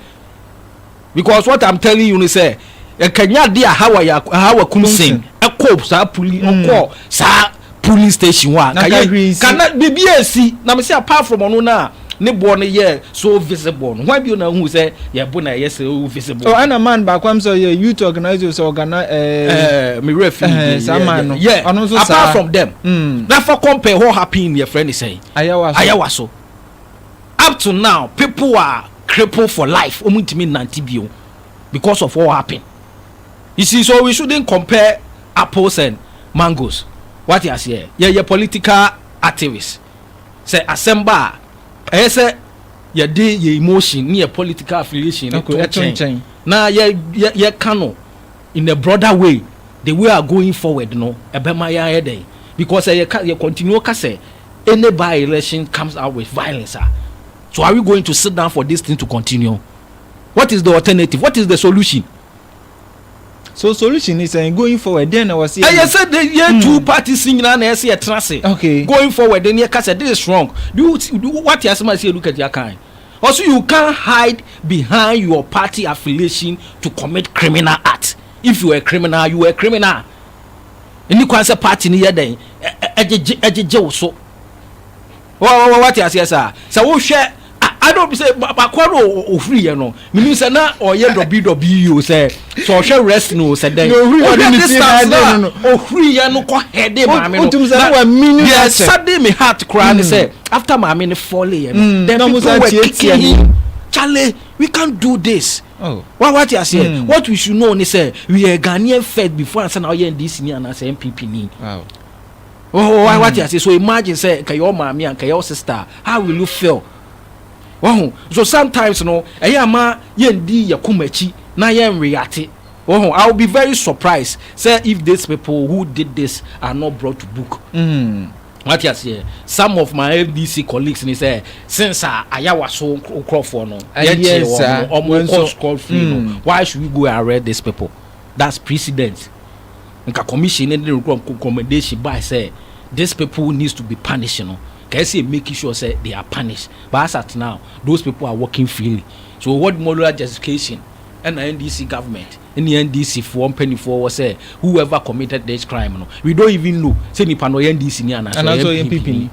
because what I'm telling you ne sɛ ɛkanya de a hawa yɛ hawa kumsen ɛkɔ saa poli ɔkɔ saa polling station hɔ a, nka yɛ, nka na biribiara resi, na mese apart from ɔno no a ne boɔ no yɛ so visible no, hwan bio na wohuu sɛ yɛn bo na ɛyɛ so visible? Oh, ɛna man baako am sɛ ɔyɛ youth organizer o, sɛ ɔgana ɛɛ. Eh, eh me werɛ fi ne din, saa man no, yeah, ɔno nso saa. Apart from them, mm. na fa compare hɔ happening yɛ frɛ ne sɛn? Ayawa so. Ayawa so. Up to now, people are crippled for life, wɔn ntumi nante bio because of what happened. You see, so we shouldn't compare apples and mangoes wate aseɛ yɛyɛ political activist sɛ asɛm ba a ɛyɛ sɛ yɛde yɛ emotion ne yɛ political affiliation no to nkyɛn na yɛ yɛ yɛka no in a broader way the way are going forward no ɛbɛma yɛ ayɛ dɛn because ɛyɛ ka yɛ continue ka sɛ any by election comes out with violence a so are we going to sit down for this thing to continue what is the alternative what is the solution. so solution ni sɛn going forward dɛn na wɔsi. ɛyɛ sɛ de yɛ hmm. two parties nyinaa na ɛsɛ ɛtena ase. okay going forward de ne ɛka sɛ this is wrong do you do what yasem ase edu kɛtɛ akan also you can hide behind your party affiliation to commit criminal act if you were a criminal you were a criminal ɛni kwan sɛ party ni yɛ dɛn ɛgyegye ɛgyegye wo so. Wate aseɛ saa? Sɛ wohwɛ I don't say bakoa no ofiri yɛ no menim sɛ na ɔyɛ dɔbi dɔbi yi o sɛ sɛ ɔhwɛ rest no o sɛ dɛn ɔhwɛ distance no a ofiri yɛ no kɔ hɛde maame no na deɛ sade me heart koraa ne sɛ after maame no fɔle yɛ no then people were kicking him Charlie we can't do this wa wate aseɛ what we should know ne sɛ we are Ghanaian first before ansa na ɔyɛ NDC ni anaasɛ NPP ni. Wahu wa wate ase so imagine sɛ nka yɛ maame a nka yɛ sister a how will you feel? Wahu so sometimes no ɛyɛ ama yɛndi yɛ koma akyi na yɛn reate. Wahu I will be very surprised sɛ if these people who did this are not brought to book. Wate aseɛ some of my FDC colleagues ni sɛ since a ayawa so nkurɔfoɔ no yɛnkyee wɔn no wɔn kɔ scot free no why should we go arrest these people that's precedent. nka commission no de recommendation bae sɛ this people needs to be punished no, nka ɛsɛ sɛ yɛ make sure sɛ they are punished, but as at now those people are working freely. So what moral justification ɛna NDC government ne NDC foɔ mpaninfoɔ wɔ sɛ whoever committed this crime no, we don't even know sɛ nipa no ɔyɛ NDC ni anaa sɛ ɔyɛ NPP ni.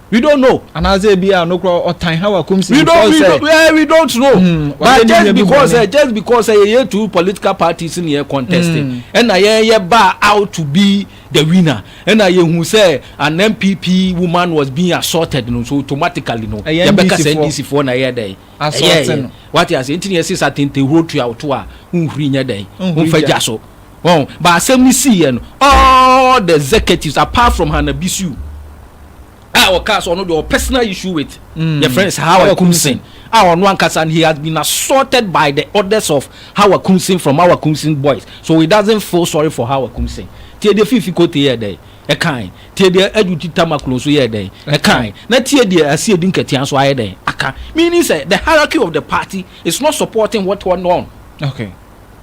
We don't know. Anaasɛ ebi a nokora ɔtan ha wa kum si we don't, we don't, yeah, we don't know. Mm, But just because uh, just because uh, yɛ two political parties ni yɛ contest mm. ɛna yɛ yɛ ba out to be the winner ɛna yɛ hu sɛ an NPP woman was being assaulted no so automatically no yɛ bɛ kasa NDC foɔ na yɛ dɛ ɛyɛ yɛ wate ase nti ni yɛ sisa tenten huro tuya o to a nhuri nyɛ dɛ nfa gya so. Wahu? But asɛm no siiɛ no, all the executives apart from Hannah Bissue a ɔkaa sɛ ɔno deɛ ɔwɔ personal issue with mm. yɛfrɛ no sɛ Hawa Kumsin a ɔno ankasa no he has been assaulted by the orders of Hawa Kumsin from Hawa Kumsin boys so he doesn't feel sorry for Hawa Kumsin tie deɛ Fifi Kote yɛ dɛn ɛkan tie deɛ Adwuti Tamaklo nso yɛ dɛn ɛkan na tie deɛ Asie Di Nkatia nso ayɛ dɛn aka meaning sɛ the hierarchy of the party is not supporting what went on okay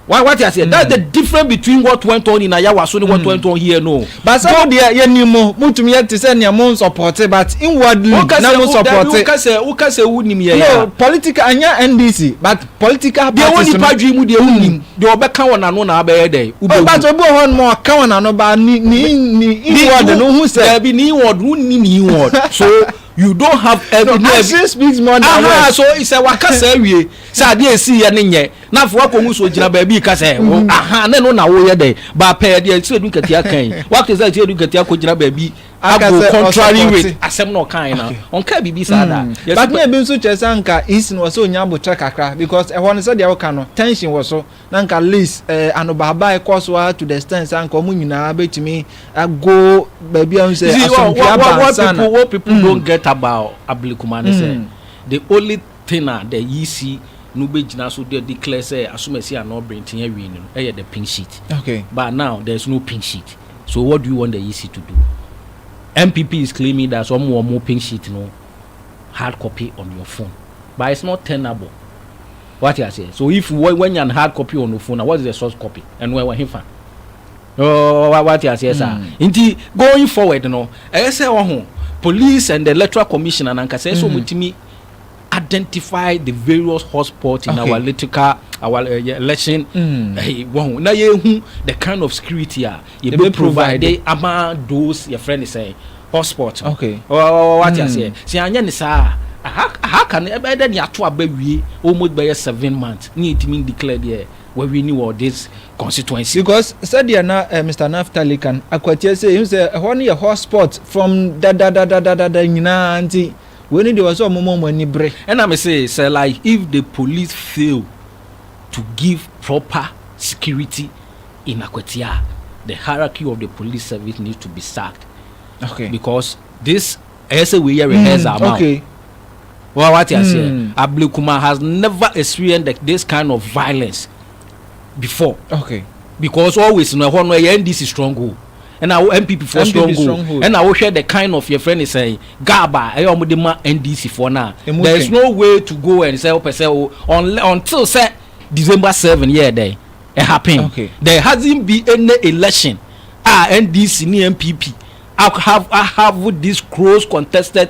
Wa wate aseɛ? That's the difference between what went on in Ayawaso ne what went on here no. But sɛ mo deɛ yɛ ni mo mo tumi yɛ te sɛ nea mo nsɔpɔte but inwardly na mo nsɔpɔte. Wo kasɛ wo kasɛ wo nim yɛ ya. No political anya NDC but political parties. Deɛ wɔ nipa dwi mu deɛ wo nim deɛ ɔbɛ ka wɔ n'ano na abɛyɛ dɛ. Ɔbɛ but obi wɔ hɔ nom ɔka wɔ n'ano ba ni ni ni inward no ho sɛ. Dabi ni inward wo ni ni inward so you don't have. No action speaks more than words. Aha so sɛ wa kasa awie. Sɛ adeɛ a ɛsiiɛ no nyɛ na afei woakɔhu sɛ ɔgyina baabi reka sɛ wo aha ne no na woyɛ dɛ baapɛɛ deɛ Siradu Nketia ka yi woate sɛ Siradu Nketia kɔgyina baabi Aka ago sɛ contrary ɔsupporte. with asɛm na ɔkae no a ɔnkaa biribi saa da Mm. Yɛsi But na ebi nso kyerɛ sɛ anka East no wɔ sɛ ɔnya aboterɛ kakra because ɛhɔ no sɛdeɛ woka no tension wɔ so na anka list eh, anobaabae kɔ so ara to the extent sɛ anka wɔn nyinaa bɛtumi ago baabi a wohu You sɛ see, what, asomdwoeɛ what, aba what, what ansa na people, what people Mm. don't get about Ablikumane say Mm. the only Thing a the EC no bɛgyina so de declare sɛ asomasi anaa ɔbrenten awie no no yɛ the pink sheet but now there is no pink sheet so what do you want the EC to do? NPP is claiming that sɛ wɔwɔ wɔn pink sheet no hard copy on your phone but it's not tenable wate aseɛ so if wɔanya no hard copy on your phone na what is the source copy ɛno ɛwɔ hefa wate aseɛ saa nti going forward no ɛyɛ sɛ wɔho police and the electoral commission anankasa ɛsɛ wɔtumi identify the various hotspots in okay. our electrical our uh, election mm. hey, wow. na yɛhu the kind of security a yɛbɛ provide ama those your friend is saying hotspot okay. oh, oh, what mm. you say sɛ anyɛ ne saa aha ka no ɛbɛyɛ dɛ ne ato aba wie almost bɛyɛ seven months ne yɛtumi declare deɛ wawie ni wɔ this constituency. because sɛdeɛ na uh, eh, mr naftali kan akwatia sɛ ɛhu sɛ ɛhɔ no yɛ hotspot from dadadadadada nyinaa nti Wei no deɛ ɔsɛ ɔmoma ɔmo ani bere. Ɛna me se sɛ like if the police fail to give proper security in Akwatia a the hierarchy of the police service needs to be sacked okay. because this ɛyɛ sɛ wei yɛ rehearse ama o. Wa wa te aseɛ Ablekuma has never experienced this kind of violence before okay. because always no ɛhɔ no ɛyɛ NDC stronghold. ɛna wo NPP foɔ strong o ɛna wohwɛ the kind of yɛfrɛ ne sɛn gab a ɛyɛ wɔn de ma NDC foɔ no a there is no way to go and sɛ wopɛ sɛ o until sɛ December seven yɛ dɛ it happen there hasn't be any election a NDC ne NPP have have this close contested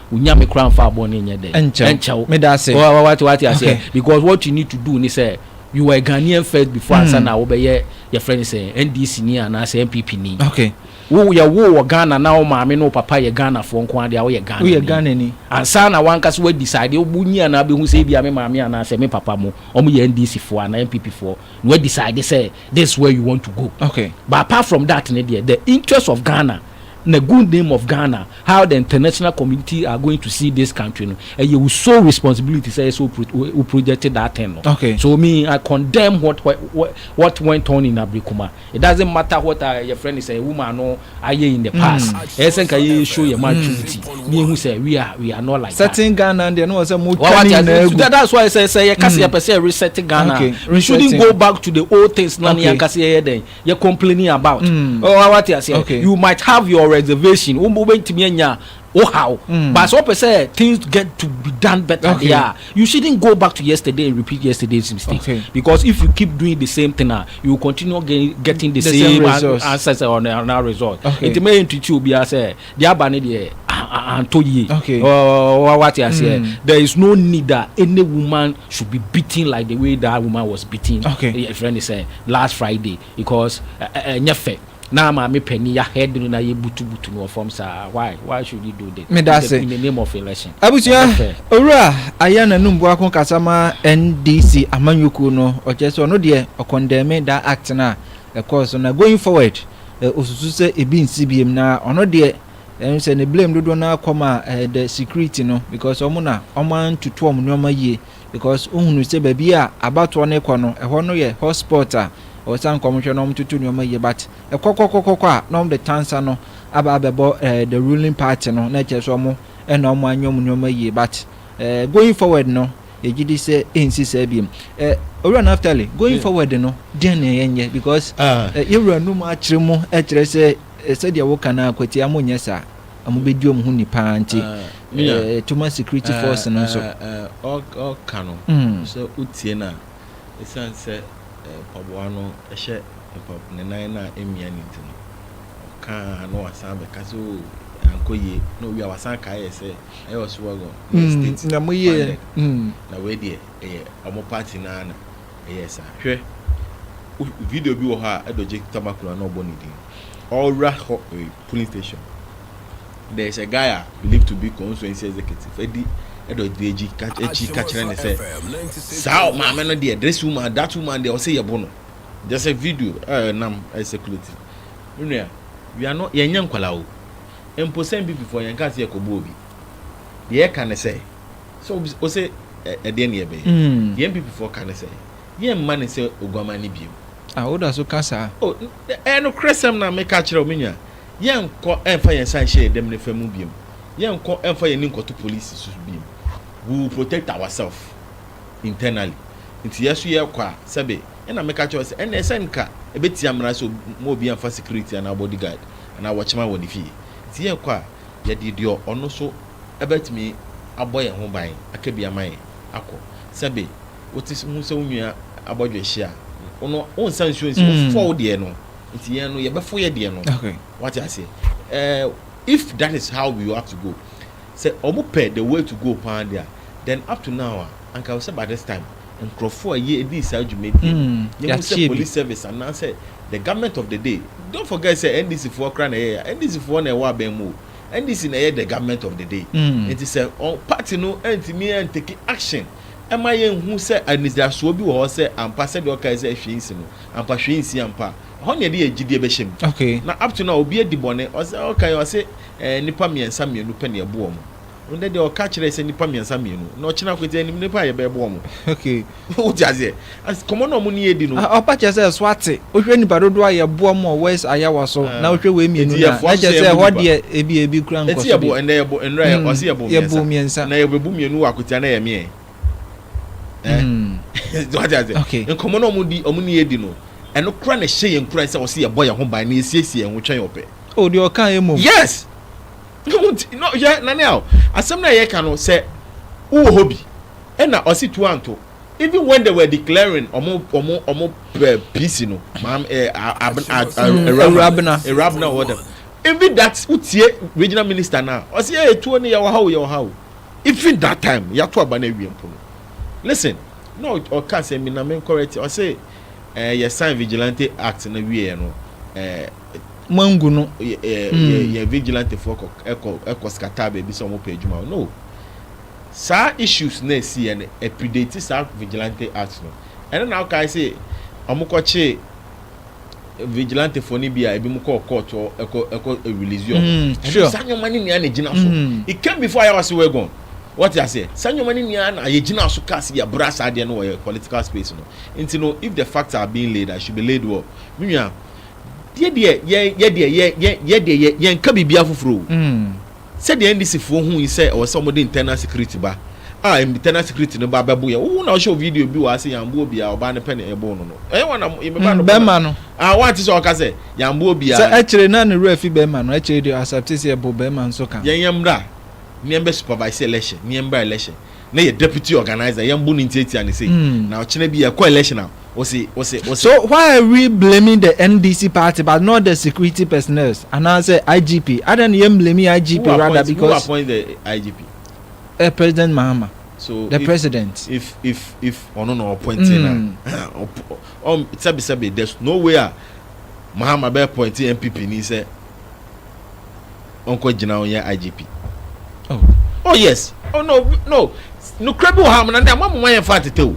wo Nyame koraa mfaa bɔne nyɛ dɛn? Ɛnkyɛ wo. Meda ase. Wate, wate aseɛ? Okay. Because what you need to do ne sɛ, you were a Ghanaian first before mm. ansa na wobɛyɛ yɛfrɛ ne sɛ NDC ni anaasɛ NPP ni. Okay. Wo yɛ wo wɔ Ghana na wo maame ne wo papa yɛ Ghanafoɔ nko adeɛ a woyɛ Ghana ni. Woyɛ Ghana ni. Ansa na wankasa wa decide wo nyi anaa bɛhu sɛ ebi a me maame anaasɛ me papa mo wɔn yɛ NDC foɔ anaa NPP foɔ na wa decide sɛ this where you want to go. Okay. But apart from that ne deɛ the interest of Ghana na good name of Ghana how the international community are going to see this country no ɛyɛ wo sole responsibility sɛ ɛsɛ wo project that thing no okay. so me I condemn what what what went on in Abrikuma it doesn't matter what uh, your friend is a woman no ayɛ in the hmm. past ɛyɛ sɛ nka yɛ show yɛ maturity hmm. ne ehu sɛ we are we are not like that certain Ghana deɛ no wɔ sɛ mo twa ne nyinaa egu that's why sɛ sɛ yɛ kasi yɛ pɛ sɛ reset Ghana we shouldn't go back to the old things na ne yɛ kasi yɛ yɛ dɛn. yɛ complaining about ɔwɔ wate aseɛ you might have your reservation wo wo bɛntumi anya wo how but sɛ ɔpɛ sɛ things get to be done better okay. there you shouldn't go back to yesterday and repeat yesterday's mistake okay. because if you keep doing the same thing uh, you will continue getting, getting the, the same, same answers or another result okay. nti mɛyɛ ntuti obiara sɛ Deɛ aba no deɛ antɔ yie. Okay. Ɔɔ wate aseɛ. Mm. There is no need that any woman should be beaten like the way that woman was beaten. Okay. Your friend is saying last Friday because ɛnyɛ uh, fɛ. Now my me penny ya head no na ye butu butu no from sa. Why? Why should you do this? Me that's in the name of election. Abusua owura aya na num boako kasama NDC amanyoko no. Oche so no de condemn that act na. Of course, na going forward. eh, osusu sɛ ebi nsi biem na ɔno deɛ ɛno sɛ ne blame dodoɔ no akɔ ma eh, the security no because ɔmo na ɔmo antutu ɔmo nneɛma yie because ohunu sɛ baabi a abatoɔ no kɔ no ɛhɔ no yɛ hotspot a ɔwɔ sɛ anka ɔmo hwɛ na ɔmo tutu nneɛma yie but ɛkɔkɔkɔkɔkɔ a na ɔmo de tansa no aba abɛbɔ eh, the ruling party no na ɛkyerɛ sɛ ɔmo ɛna ɔmo anyɛ ɔmo nneɛma yie but eh, going forward no Yɛgye di sɛ ɛrensi saa biom. Eh, Owura Naftali, going yeah. forward no, deɛ na yɛnyɛ because ah. eh, yɛwura num akyerɛ mu ɛkyerɛ sɛ eh, sɛdeɛ woka no akwatia mo nyɛ saa ɔmo bɛdi ɔmo ho ni paa nti ah, eh, tuma security ah, force no nso ɔka no hmm. sɛ wotie no a ɛsiane sɛ mpaboa no hyɛ ne nan no a ɛmmia no nti no ɔka na wasan bɛka sɛ oh, ankɔ yie na owie a wasan kaeɛ sɛ ɛyɛ Oswego ne mm, state na mo yɛ mm. na wei deɛ ɛyɛ ɔmo party naa na ɛyɛ saa hwɛ video bi wɔ hɔ a ɛdɔgye tamakura na ɔbɔ ne din ɔwura hɔ eh, polling station there is a guy a believed to be constituency executive ɛdi ɛdɔgye akyi akyi kakyerɛ ne sɛ saa maame no deɛ this woman that woman deɛ ɔsɛ yɛbo no there's a video ɛnam eh, ɛsɛ eh, kuleti nua yɛn nyɛ nkwalaa o. mpo sɛ Mbibifoɔ yɛnkaa sɛ yɛkɔbɔ obi. Deɛ yɛka ne sɛ, sɛ obi se ose ɛdeɛn na yɛbɛyɛ? Deɛ Mbibifoɔ ka ne sɛ, yɛmma no sɛ oguaman no biom. Ah, woda so ka saa? Oh, ɛyɛ nokorɛsɛm na meka kyerɛ wo, me nua. Yɛnkɔ mfa yɛn nsa nhyɛ yɛn dam nifa mu biom. Yɛnkɔ mfa yɛn ani nkɔto polisi so biom. We will protect ourself internally. Nti yɛ nso yɛkɔ a, sɛbe, ɛna meka kyerɛ wo sɛ, ɛnneɛ sɛ nka ɛbɛtia mmara sɛ obi, mma obiara mfa security anaa bodyguard. anaa wɔkyema wɔ ne fie. Sɛ yɛkɔ a, yɛde deɛ ɔno nso bɛtumi abɔ yɛn ho ban aka bi ama yɛn akɔ. Sɛbe wote ho sɛ wo nua abɔdwe ahye a, wo no wonsa nsuo nsi, wofɔ wo deɛ no nti yɛn no yɛbɛfo yɛ deɛ no. Wate aseɛ? Eh, if that is how we have to go, sɛ wɔpɛ the way to go paa deɛ a, then up to now a, Anka ɛwɔ sɛ by this time nkurɔfoɔ a yɛ dii saa dwumadie no mm, yɛ hu sɛ police service anaasɛ the government of the day don't forget sɛ ndc foɔ kora na ɛyɛ ya ndc foɔ na ɛwɔ abɛn mu o ndc na ɛyɛ the government of the day mm. nti sɛ party no ntumi ntake action ɛma yɛn hu sɛ anidasoɔ bi wɔ hɔ sɛ ampa sɛdeɛ ɔkae sɛ hwee nsi no ampa hwee nsi ampa ɛhɔ ne ɛde yɛ gyidie bɛhyɛ mu okay. na up to now obi adi bɔne ɔsɛ ɔkae ɔse eh, nipa mmiɛnsa mmienu pɛ ne ɛboɔ mu Ndɛ deɛ ɔka kyerɛ sɛ nipa miɛnsa mienu na ɔkyena kɔ ti ɛnim nipa a yɛbɛ bɔ ɔmo okay wote aseɛ as kɔmɔ na ɔmo ni edi no. Ɔpa kyɛ sɛ so ate wohwɛ nipa dodoɔ a yɛ boa ɔmo wɔ west ayawa so na wohwɛ wei mienu no a na kyɛ sɛ ɛhɔ deɛ ebi ebi kura nkɔ so bi ɛnɛ yɛ bo ndɛ yɛ ɔsi yɛ bo miɛnsa miɛnsa na yɛ bɛ bo mienu wɔ akotia na yɛ miɛ ɛɛ wote aseɛ okay nkɔmɔ na ɔmo di ɔmo ni edi no ɛno kura na ɛhyɛ yɛn kura sɛ ɔsi yɛ bɔ yɛ ho ban na yɛ siesie yɛn ho twɛn ɔpɛ. Oh deɛ ɔka yɛ mom. Yes. Hwɛ Naniao, asɛm no a yɛka no sɛ wowɔ hɔ bi ɛna ɔse tu anto even when they were declaring ɔmo ɔmo ɔmo eh, PC no maam eh, Awurabena Awurabena wɔ dɛm even that wotie regional minister na ɔse eh, tuo no yɛwɔ ha o yɛwɔ ha o even that time yɛato aba no awie mpo no listen na ɔka sɛ mina menkɔrɛ ti ɔse eh, yɛ sign vigilante act na wieɛ no eh, Mangu no yɛ yɛ yɛ mm. yɛ vigilante foɔ kɔ ɛkɔ ɛkɔ scatter baabi sɛ wɔn pɛ adwuma o no saa issues na esi yɛ no ɛpredate saa vigilante act no ɛno na ɔkae sɛ wɔn kɔ kye vigilante foɔ no bi a ebi mu kɔ court hɔ ɛkɔ ɛkɔ release yɛ wɔn ɛno saa nneɛma ne nea na egyina so it came before ayɛ ɔsi wɛ gone wɔte aseɛ saa nneɛma ne nea na ayɛ gyina so kaa si yɛ bra saa deɛ no wɔ yɛ political space no nti no if the facts are being laid i should be laid well mi nua. Yɛ deɛ yɛn yɛ deɛ yɛn yɛn yɛ deɛ yɛn yɛn ka biribi afoforɔ o. Sɛdeɛ NDC foɔ hui sɛ ɛwɔ sɛ wɔde internal security ba a internal security no ba bɛbo yɛn wo wo na wohyɛ wo video bi wɔ ha sɛ yɛn ambo obiara ɔbaa no pɛ na ɛboo no no ɛyɛ wɔn na mo me ba no bɔ na ah wante sɛ ɔka sɛ yɛn ambo obiara. Sɛ ɛkyere na ne werɛ fi bɛɛma no ɛkyere deɛ ɔ accept sɛ yɛbo bɛɛma nso ka ho. Yɛn yɛn mmra na yɛn bɛ supervise election na yɛn mmra election. na yɛ deputy organiser yɛn bu no ntiatia no sei na ɔkyena bi yɛkɔ election a ɔsi ɔsi ɔsi. So why are we blaming the NDC party but not the security personnels anaasɛ IGP adan na yɛn blame IGP rather because. Who appoint the IGP? Eh, President Mahama. So the if, president. If if if ɔno na ɔpɔnti na ɔm sɛbisɛbi there's no way a Mahama bɛ pɔnti NPP ni sɛ. ɔnkɔ gyina ɔnyɛ IGP oh oh yes oh no no nukura bi wɔ ha amuna ne ama mo ma yɛn fa tete o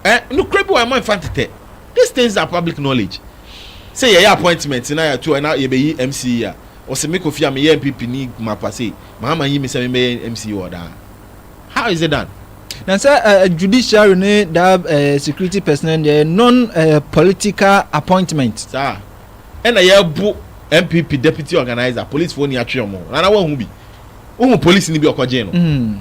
ɛ eh, nukura bi wɔ ha ama yɛn fa tete these things are public knowledge sɛ yɛyɛ appointment na yɛato ɛna yɛbɛyi mc yi a ɔsɛ me kofi a meyɛ mpp ni mapa sei mahama yi me sɛ mebɛyɛ mc wɔ daa how is it done na sɛ uh, judiciary ne da uh, security personnel deɛ non uh, political appointment saa ɛna yɛbo NPP deputy organiser police foɔ ni atwe ɔmo rana wahu bi wohu police ni bi ɔkɔ gyee no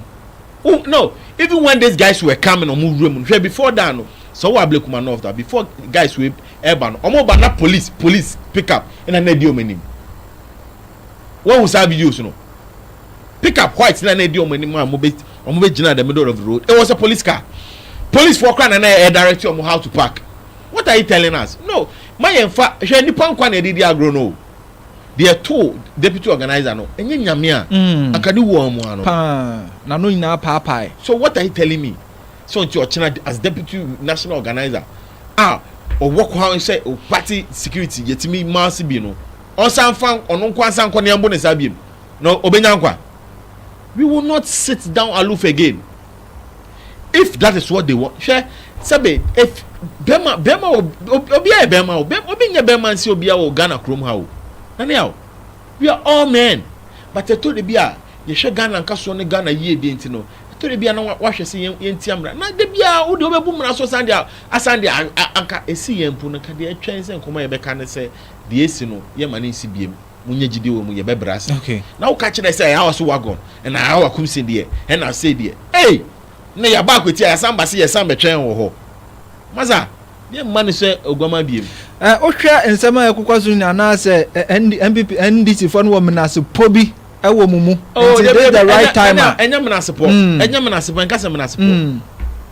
oh no even when these guys were coming ɔmo wura mu hwɛ before that no sɛ ɔwɔ ablekuma north that before guys wei ɛba no ɔmo ba na police police pick up ɛna na ɛdi ɔmo anim wahu saa videos no pick up white na na ɛdi ɔmo anim a ɔmo bɛ ɔmo bɛ gyina the middle of the road it was a police car police foɔ kora na na ɛdirect ɔmo how to park what are you telling us no. Ma yɛnfa, hwɛ nnipa nkwa na yɛde redi agorɔ no o. Deɛ ɛtoo deputy organiser no, ɛnyɛ Nyame a, anka ne wuo ammoa no. Paa, n'ano nyinaa apaapae. So what are you telling me, sɛ ɔnti ɔkyena as deputy national organiser a ɔwɔ kwan sɛ party security yɛtumi ma ase bi no, ɔnsan mfa ɔno nko ara nsan nkɔ na yɛmbo ne saa biom, na ɔbɛnya nkwa? We will not sit down aloof again. if that is what they want hwɛ sɛbe if bɛma bɛma obi ayɛ bɛma o obi nyɛ bɛma nsi obi awɔ ghana kurom ha o nane a we are all men but ɛtɔ de bi a yɛhwɛ ghana nkasoɔ ne ghana yie deɛ nti no ɛtɔ de bi a na wahwɛ sɛ yɛn yɛn ti amena na de bi a wode wobɛbu mmara so san de asan de anka esi yɛn mpo no nka deɛ ɛtwɛn sɛ nkɔmɔ yɛbɛka ne sɛ deɛ esi no yɛma ne nsi biem. munya gyidi wɔ mu yɛ bɛbrɛ ase na woka kyerɛ sɛ ɛyɛ so wagon na ɛyɛ wakum se deɛ ɛna se deɛ ei na yɛaba akwati a yɛsan ba se yɛsan bɛtwɛn wɔ hɔ maza deɛ mma ne sɛ oguama biem wohwɛ nsɛm a ɛkokɔ so nyina anaasɛ npp ndcfoɔ no wɔ menasepɔ bi ɛwɔ mu mu oh, nti this the right time a ɛnyɛ menasepɔ ɛnyɛ menasepɔ ɛnka sɛ menasepɔ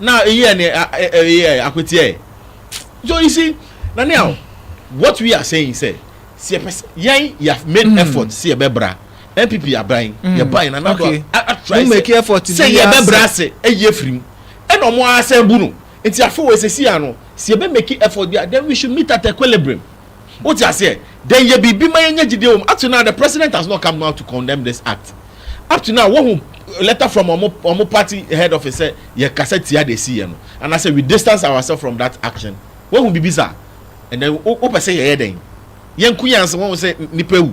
na eyɛ ne ɛyɛ akweteɛ so you see na ne awo what we are saying sɛ sɛ yɛpɛ sɛ yɛn yɛ made mm. effort sɛ yɛbɛbra npp aban mm. yɛban na nado atry sɛ yɛbɛbra ase ɛyi afiri mu ɛna ɔmo asɛn bu no nti afei wɔ esisi ano sɛ yɛbɛ make effort bi a then we should meet at equilibrium. Wote aseɛ? Then yɛ biribi ma yɛnya gyidie wɔ mu. Up to now the president has not come out to condemn this act. Up to now woahu letter from wɔn wɔn party head office sɛ yɛkasa tia deɛ ɛsiiɛ no anaasɛ we distance ourselves from that action. Woahu biribi saa? And then wo wopɛ sɛ yɛyɛ dɛn? Yɛnko yɛn ase woahu sɛ nnipa awu.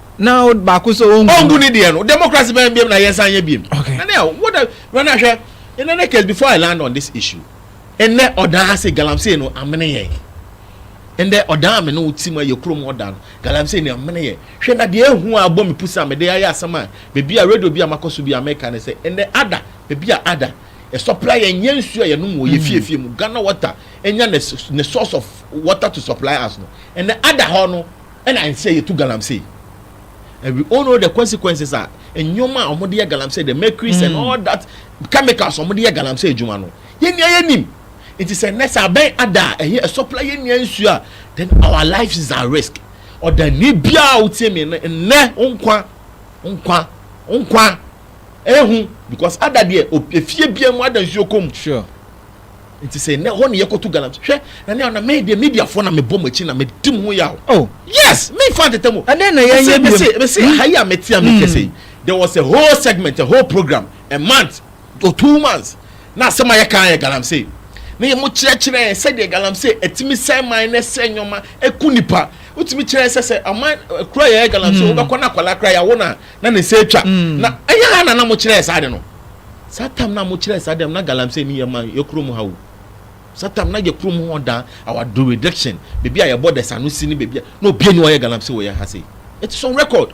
na baako sɛ ɔngu ɔngu ne deɛ no democracy bɛn biam na yɛnsan nyɛ biam okay na ne a what a run ahwɛ in any case before i land on this issue ɛnɛ ɔdan ase galamsey no amene yɛn ɛnɛ ɔdan amene wo ti mu ayɛ kurom ɔdan no galamsey no amene yɛn hwɛ na deɛ ehu a abɔ me pusa mede ayɛ asɛm a beebi a radio bi a makɔ so bi a mɛka ne sɛ ɛnɛ ada beebi a ada ɛsɔpla yɛn nyɛ nsuo a yɛnom wɔ yɛ hmm. fiefie mu ghana water ɛnya ne source of water to supply us no ɛnɛ ada hɔ no Ɛna ɛnsɛ yɛtu galamsey. And we all know the consequences a nneɛma a wɔde yɛ galamsey, the mercuries and all that chemicals wɔde yɛ galamsey adwuma no, yɛn nyinaa yɛnim. Nti sɛ nnɛ sɛ abɛn ada a, ɛyɛ ɛsɔpla yɛn nyinaa nsuo a, then our lives is at risk. Ɔdani biara a wotie me no, nnɛ wo nkwa, wo nkwa, wo nkwa, ehu, because ada deɛ, o- efie biara mu ada nsuo kɔ mu. Sure. Nti sɛ nɛ hɔ ne yɛ kɔ tu galam hwɛ na nɛ ɔna mɛ deɛ media fɔ na mɛ bɔ mo akyi na mɛ dim ho yaw. Oh. Yes mɛ nfa ntɛtɛ mu. Ɛdɛn na yɛ nyɛ biom. Mɛ se ha yi a mɛ tia mi kɛsɛ yi there was a whole segment a whole program a month or two months na asɛm a yɛ kan yɛ galamsey na yɛ mo kyerɛ kyerɛ yɛn sɛ deɛ galamsey ɛtumi sɛn man na ɛsɛn nyɔma ɛku nipa wotumi kyerɛ sɛ sɛ aman kura yɛ yɛ galamsey wobɛkɔ na akwadaa kura yɛ awo na na ne nsa atwa na ɛyɛ ha na na mo kyerɛ yɛ saa de no. Saa tam no a mokyerɛɛ saa dɛm na galamsey no yɛ ma yɛ kurom ha o. Saa tam na yɛ kurom hɔ da our jurisdiction baabi a yɛbɔ dɛsa no si ne baabi a na obiani ɔyɛ galamsey wɔ yɛn ha sei. It is on record.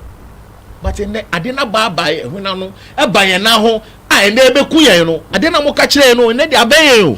But ɛnɛ ade no abaabae ɛhwene ano ɛba yɛn nan ho a ɛnɛ ɛbɛku yɛn no ade no a moka kyerɛɛ no ɛnɛ de abɛn yɛn o.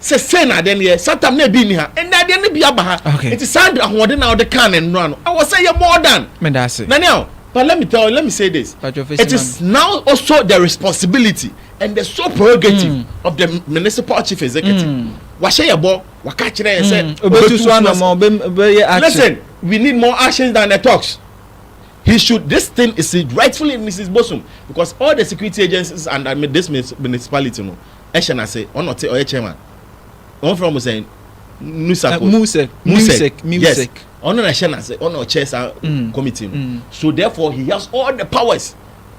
sɛ sei na adeɛ no yɛ satam na ebi nni ha ɛnna adeɛ no bi aba ha nti saa de ahoɔden na ɔde kan ne nnora no ɛwɔ sɛ yɛ more than na ne aho but let me tell you let me say this it is now also the responsibility and the sole prerogative mm. of the municipal chief executive mm. wahyɛ yɛ bɔ waka kyerɛ yɛ sɛ obetu so anamɔ bɛyɛ action listen we need more actions than the talks he should this thing is rightfully mrs bosom because all the security agencies under this municipality no hyɛ n'ase, ɔno na ɔte, ɔyɛ chairman. Wɔfrɛ wɔn sɛn? Nusako. Uh, Musek. Musek. Musek. Yes. Ɔno na hyɛ n'ase, ɔno na ɔkyɛ saa mm. committee no. Mm. So therefore he has all the powers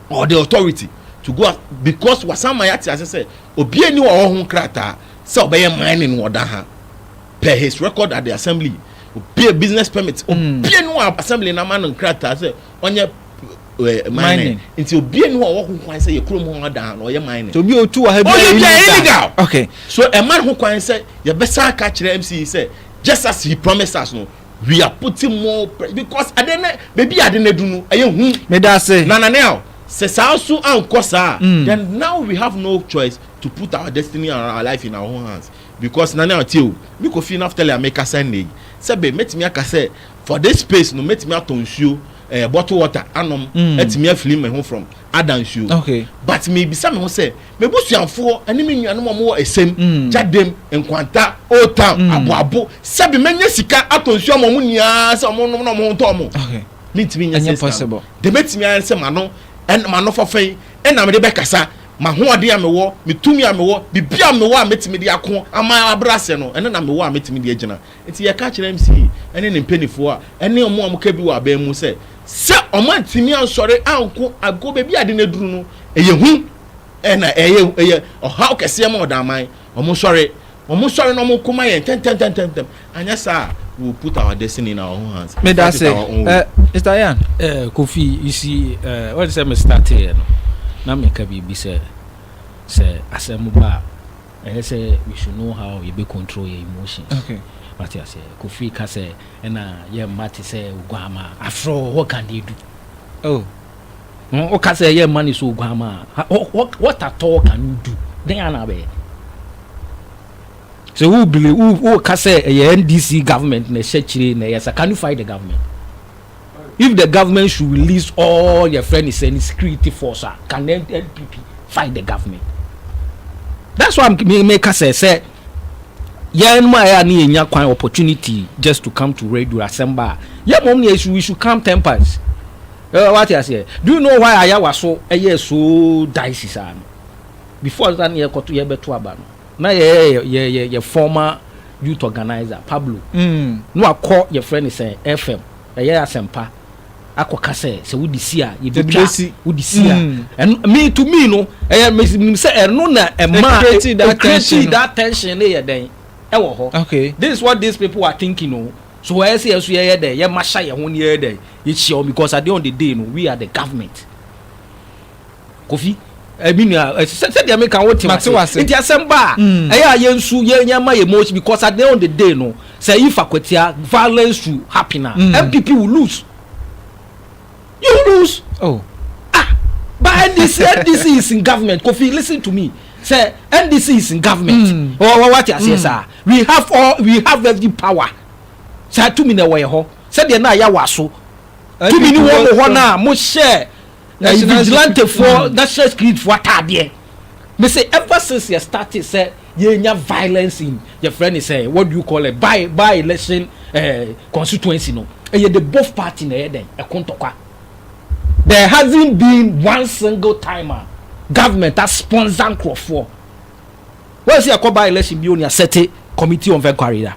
or the authority to go out because wasan ma yɛate ase sɛ obi ani wɔ hɔ ho nkrataa sɛ ɔbɛyɛ mining wɔ da ha per his record at the assembly obie business permit mm. obie no assembly na ma no nkrataa sɛ ɔnyɛ eh, mining nti obie ne hɔ a ɔwɔ ho kwan sɛ yɛ kurom hɔ adan na ɔyɛ mining. obi otu wɔ ha bi ɔyɛ bia illegal okay so ɛma ho kwan sɛ yɛbɛsan aka kyerɛ mc sɛ just as he promised us no we are putting more pressure because ade ne beebi ade ne du no ɛyɛ hu. meda ase na nane a sɛ saa so ankɔ saa mm. then now we have no choice to put our destiny and our life in our own hands because nane a tie o mekɔ fie no after lea meka sɛ nne yi sɛ be mɛtumi aka sɛ For this space no mɛtumi atɔ nsuo eh, bottle water anom mm. atumi afili me ho from ada nsuo okay. but mebisa me ho sɛ mebusuafoɔ ɛne me nuanom ɔmo wɔ ɛsɛm mm. gyadem nkwanta old town mm. aboabo sɛbi mɛnyɛ sika atɔ nsuo ama ɔmo nyinaa sɛ ɔmo nom na ɔmo ho tɔ ɔmo okay. mentumi nyɛ sɛ sika de mɛtumi ayɛ sɛ mano ɛn mano fɔfɛ yi ɛna mede bɛkasa mahoɔden a mewɔ metumi a mewɔ biribi a mewɔ a mɛtumi de ako ama abrɛ aseɛ no ɛne na mewɔ a mɛtumi de agyina Enti yɛka kyerɛ MCA ne ne mpanimfoɔ a ɛne wɔn a wɔka bi wɔ aban mu sɛ, sɛ wɔantumi ansɔre anko ankɔ baabi a ade no aduru no, ɛyɛ hu na ɛyɛ ɛyɛ ɔhaw kɛseɛ ma ɔdaman. Wɔnsɔre, wɔnsɔre na wɔnko ma yɛn ntɛmntɛmntɛmntɛm, anyɛ saa a we will put our destiny in our own hands. Meda That is ase. our own way. Eh, Mr. Yan, Eh, Kofi, you see, eh, wɔn sɛ me starteɛ no, na meka biribi sɛ, sɛ asɛm ba a, Ɛyɛ sɛ we should know how yɛbɛ control yɛn emotions. Okay. Wate aseɛ? Kofi ka sɛ ɛna yɛ mma te sɛ oguammaa. Afrɛ wo, what can they do? Oh. Hmm, wo ka sɛ yɛ mma ne sɛ oguammaa. Ha- wh- wh- What at all can you do? Dɛn ara na abɛyɛ? Sɛ wo believe, wo, wo ka sɛ ɛyɛ NDC government na ɛhyɛ kyire na ɛyɛ sa, can you fight the government? If the government should release all yɛfrɛ no sɛ ne security force a can the NPP fight the government? That's why me meka sɛ sɛ yɛn mu a yɛ a ne yɛnya kwan opportunity just to come to radio asɛm ba a yɛ mmom ne we should come ten pounds. Uh, what I say? Do you know why I was so I so dicey before that near koto yɛ bɛto aba no? Na yɛyɛ yɛ yɛ yɛ former youth organiser Pablo na wakɔ yɛfrɛ no sɛ FM ɛyɛ asɛmpa akɔ ka sɛ sɛ wode si a yɛbɛtwa wode si a ɛno me to me no ɛyɛ menim sɛ ɛno na ɛma create that tension ne yɛ dɛn ɛwɔ hɔ this is what these people are thinking o so ɛyɛ sɛ yɛ so yɛyɛ dɛn yɛma hyɛ yɛ ho ne yɛyɛ dɛn yɛhyia wɔn because at the end of the day no we are the government. Kofi, eh, me nua, eh, sɛ sɛ deɛ meka wote Mate wase. wase. Nti asɛm ba a, Mm. ɛyɛ a yɛnsu, yɛn yɛn ma yɛn emotion because at the end of the day no, sɛ if akwatia violence to happen a, Mm. NPP will lose. You will lose. Oh, Ah, but NDC, NDC is in government. Kofi, listen to me. Sɛ NDC is in government. Mm. Wɔ wɔ wate aseɛ saa. We have all, we have every power. Saa tumi na ɛwɔ yɛ hɔ. Sɛdeɛ na yɛawa so. Tumi ni wɔn wɔ hɔ no a mo hyɛ Ɛyɛ vigilantefoɔ national security foɔ ataadeɛ. Me se ever since yɛ start sɛ yɛnya violence in yɛfrɛ ne sɛ what do you call it by by election eh, constituency no ɛyɛ the both party na ɛyɛ dɛn ɛko ntɔkwa. There hasn't been one single time a government a sponsor nkurɔfoɔ. Wɔn si ɛkɔ by election bi o ni asɛte committee of inquiry da.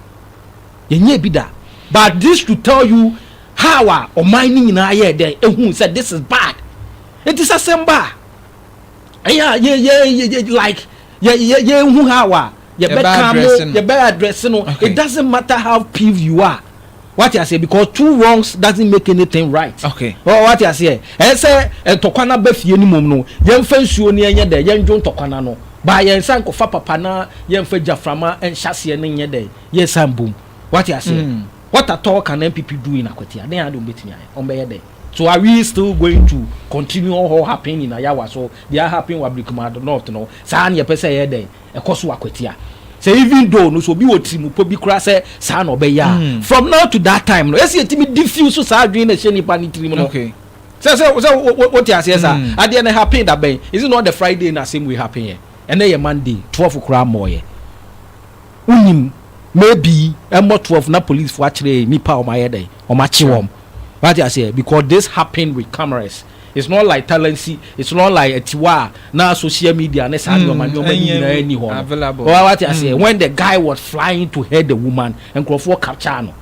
Yɛnyɛ bi da. But this to tell you How a ɔman no nyinaa yɛɛ dɛ ehuu sɛ this is bad. Enti sɛ asɛm ba a, ɛyɛ a yɛ yɛ yɛ like yɛ yɛ yɛnhu how a yɛbɛka no yɛbɛ address no. It doesn't matter how peeved you are. Wate aseɛ because two wrongs doesn't make anything right. Okay. Oh, wate aseɛ ɛyɛ sɛ ntɔkwa no aba fie no mom no yɛmfa nsuo no ɛnyɛ dɛ yɛndwo ntɔkwa no ano baa yɛnsan kɔfa papa na yɛmfa gyaframa nhyɛseɛ no nyɛ dɛ yɛsan bom. Wate aseɛ. Mm. What at all can NPP do in Akwatia? Dɛn ara de wɔbɛtumi ayɛ, wɔbɛyɛ dɛn? So are we still going to continue ɔhɔ happen in Ayawa so deɛ ahappen wɔ Abirikumadu North no, saa na yɛpɛ sɛ ɛyɛ dɛn, ɛkɔ so wɔ Akwatia? Sɛ even though no, sɛ obi wɔ tirimupɔ bi koraa sɛ saa na ɔbɛyɛ a, from now to that time no, ɛsɛ yɛtumi diffuse saa adwene no a ɛhyɛ nipa no tirim no. Sɛ, sɛ, sɛ wo, wo, wote aseɛ saa? Adeɛ no ɛhappen da bɛn? Is it not the Friday na asɛm wei happenɛ? Ɛnnɛ yɛ Monday, twelve koraa mmɔɔeɛ. Wonim maybe ɛmmɔ twelve na polisfoɔ akyerɛ nnipa a wɔayɛ dɛn wɔakye wɔn wate aseɛ because this happened with cameras it's not like talansi it's not like atiwa a na social media ne saa nneɛma nneɛma ne nyinaa nni hɔ no wate aseɛ when the guy was flying to hurt the woman nkurɔfoɔ capture no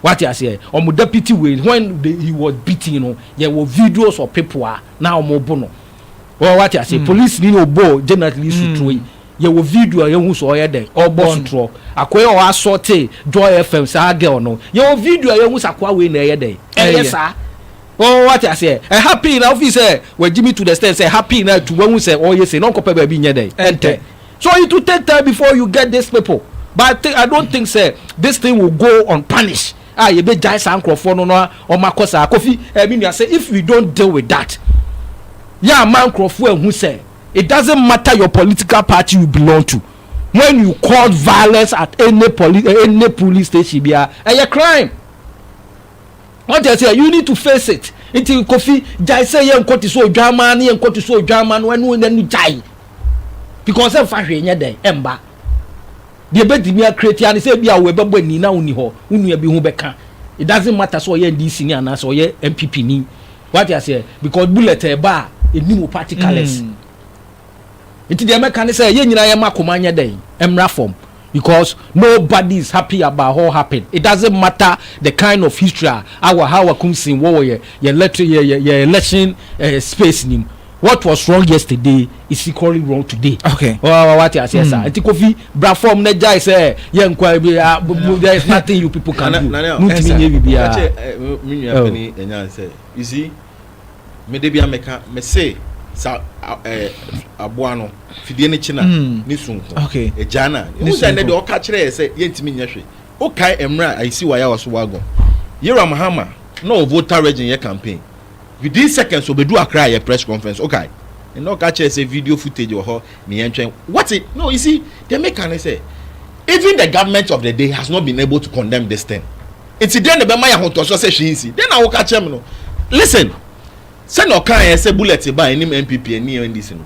wate aseɛ wɔn deputy wei when the, he was beating no yɛwɔ videos of people a na wɔn bo no wate aseɛ police ni na ɔbɔ generally suturo yi Yɛwɔ video a yɛhu sɛ ɔyɛ dɛn? Ɔrebɔ sotorɔ. Akoa yi a ɔasɔɔte Joy FM, saa girl no, yɛwɔ video a yɛhu sɛ akoa wei na ɛyɛ dɛn? Ɛyɛ saa. Oh, woate aseɛ? Ɛha pii na wofii sɛ wagye me to the extent sɛ ɛha pii na atu, wahu sɛ ɔreyɛ sei na ɔnkɔpɛ baabi nyɛ dɛn? Ɛntɛ. So it will take time before you get these people. But I think, I don't think sɛ this thing will go unpunished a yɛbɛgyae saa nkorɔfoɔ no na wɔakɔ saa. Kofi, ɛɛ, me nua, sɛ if we don't deal with that, yɛamma nkorɔfoɔ anhu sɛ. It doesn't matter your political party you belong to when you cause violence at any poli any police station biara ɛyɛ crime wate aseɛ you need to face it nti kofi gyae sɛ yɛ nkɔ te sɛ odwanmaa ne yɛ nkɔ te sɛ odwanmaa no ɛno ɛno gyae because ɛmfa hwee nyɛ dɛn ɛmba deɛ ɛbɛtumi akretia ne sɛ bi a wɔbɛbɔ ani na wonni hɔ wo nua bi ho bɛka it doesn't matter sɛ ɔyɛ ndc ni anaasɛ ɔyɛ mpp ni Wate aseɛ? Because bullet ɛba a, ɛnim wo particles. Nti deɛ mɛka ne sɛ, yɛn nyinaa yɛmma akoma nyɛ dɛn? Ɛmmra fam. Because nobody is happy about what happened. It doesn't matter the kind of history a our Hawa Kumsin wɔ wɔ yɛn yɛn yɛn yɛn election eh, space nim. What was wrong yesterday is equally wrong today. Okay. Wa wa ti ase sa. Hmm. Nti Kofi bra form na jai sɛ yɛ nkwa bi ah, there is nothing you people can do. Mu ti mi nye bi bia. Ache eh, mi nua oh. pani enya sɛ. You see, me de bia meka me se sa eh aboa no fidie ne kina hmm. ne sunko. Okay. Eja na. Mu sɛ ne de ɔka kyerɛ sɛ yɛntimi nyɛ hwe. O kai emra ayisi wa ya waso wago. Yera Mahama na o voter region yɛ campaign. Within seconds ɔbɛduu Accra yɛ press conference wokae? Ɛnna ɔka kyerɛɛ sɛ video footage wɔ hɔ ne yɛntwɛn what i no you see deɛ meka ne sɛ even the government of the day has not been able to condemn this thing nti dɛn na ɛbɛma yɛ ahotɔsoɔ sɛ hwee nsi dɛn na woka kyerɛ me no listen sɛnea ɔkaeɛ sɛ bullet baa anim npp ani ndc no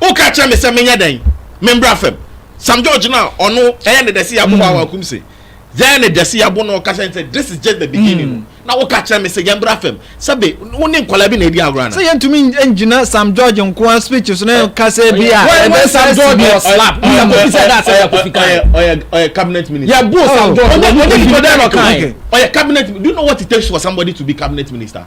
woka kyerɛ me sɛ menyɛ dɛn membra fam sam george no a ɔno ɛyɛ ne dɛse yɛabo hɔ a wakum se yɛyɛ ne dɛse yɛabo na ɔka kyerɛ sɛ this is just the beginning no na woka kyerɛ me sɛ yɛmbra fam sɛbe wo ne nkɔla bi na ɛdi agorɔ ana sɛ yɛntumi ngyina sam george nkoa speech so na yɛka sɛ bi a ɛbɛ sam george was slap ɔyɛ cabinet minister yɛbo sam george ɔyɛ cabinet do you know what it takes for somebody to be cabinet minister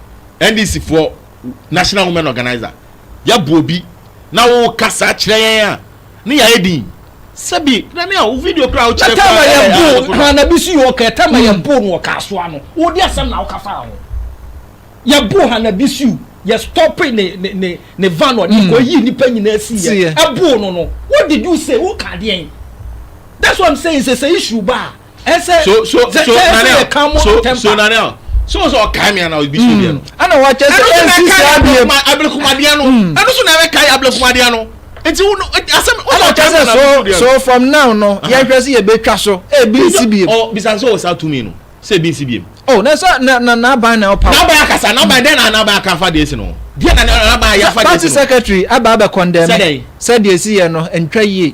NDC foɔ National Women Organizer yɛ boɔ bi na wo kasa kyerɛ yɛn a ne yɛ ayɛ din sɛbi na ne a wo video kura wo kyerɛ kura yɛ bo na na bi si yɛ ɔka ɛtama yɛ hmm. bo na ɔka asoa no wo di asɛm na wo kasa ho yɛ bo ha na bi si o yɛ stop ne ne ne ne van ɔde hmm. kɔ yi nipa nyinaa si yɛ ɛbo no no what did you say wo ka deɛn that's what i'm saying sɛ sɛ issue baa. ɛsɛ so so so nanel so so nanel so sɛ ɔkae me ana obi so deɛ no ɛna wakyɛ sɛ ɛnsi saa deɛ mu abelekomadeɛ no ɛno so na ɛbɛkae abelekomadeɛ no nti wo asɛm ɛna ɔkyɛ sɛ so so from now no yɛhwɛ sɛ yɛbɛtwa so ebi nsi biem ɔ bisa sɛ ɔwɔ saa tumi no sɛ ebi nsi biem oh na sɛ na na n'aban na ɔpa n'aban akasa n'aban dɛn na n'aban aka afa deɛ si no deɛ na n'aban ayɛ afa deɛ si no party secretary aba abɛ condemn sɛ deɛ si yɛ no ntwa yie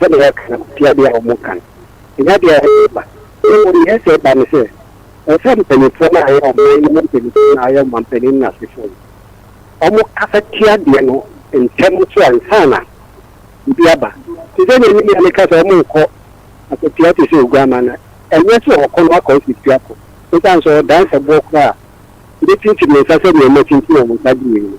sɛdeɛ yɛaka no, ɛte adeɛ a wɔka no, ɛnyɛ adeɛ a ɛsɛ sɛ ɛba. Na mmom deɛ ɛsɛ sɛ ɛba ne sɛ, ɛsɛ sɛ mpanimfoɔ no a wɔyɛ ɔman no mu mpanimfoɔ no a wɔyɛ ɔmampanin no asefoɔ no, wɔkasa tia adeɛ no ntɛm so ansa na biribi aba. Te sɛ nea me nua no ka sɛ wɔnkɔ akɔtua te sɛ Oguammaa no, ɛnyɛ sɛ ɔkɔ na wakɔ akɔtua ako, ɛsiane sɛ ɔwɔ dansɛboɔ koraa a, ɔbɛtintim ne nsa sɛdeɛ wɔatintim wɔn nsa de wieeɛ no.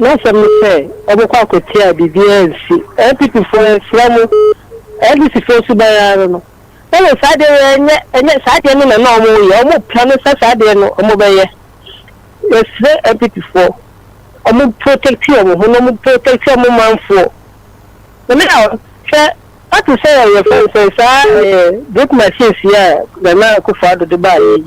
N'asɛm ne sɛ wɔbɛkɔ akɔtie a biribiara ansi. NPPfoɔ yɛsrɛ mo, NDCfoɔ suban ara no. Ɛwɔ saa deɛ yɛ ɛnyɛ ɛnyɛ saa deɛ no na na wɔn reyɛ, wɔn repra no sɛ saa deɛ no wɔn bɛyɛ. Yɛsrɛ NPPfoɔ wɔn protect wɔn ho na wɔn protect wɔn manfoɔ. Nana a hwɛ ate sɛ yɛfrɛ no sɛ saa ɛɛ brick machines yi a Nana Akufo-Addo de baeɛ yi.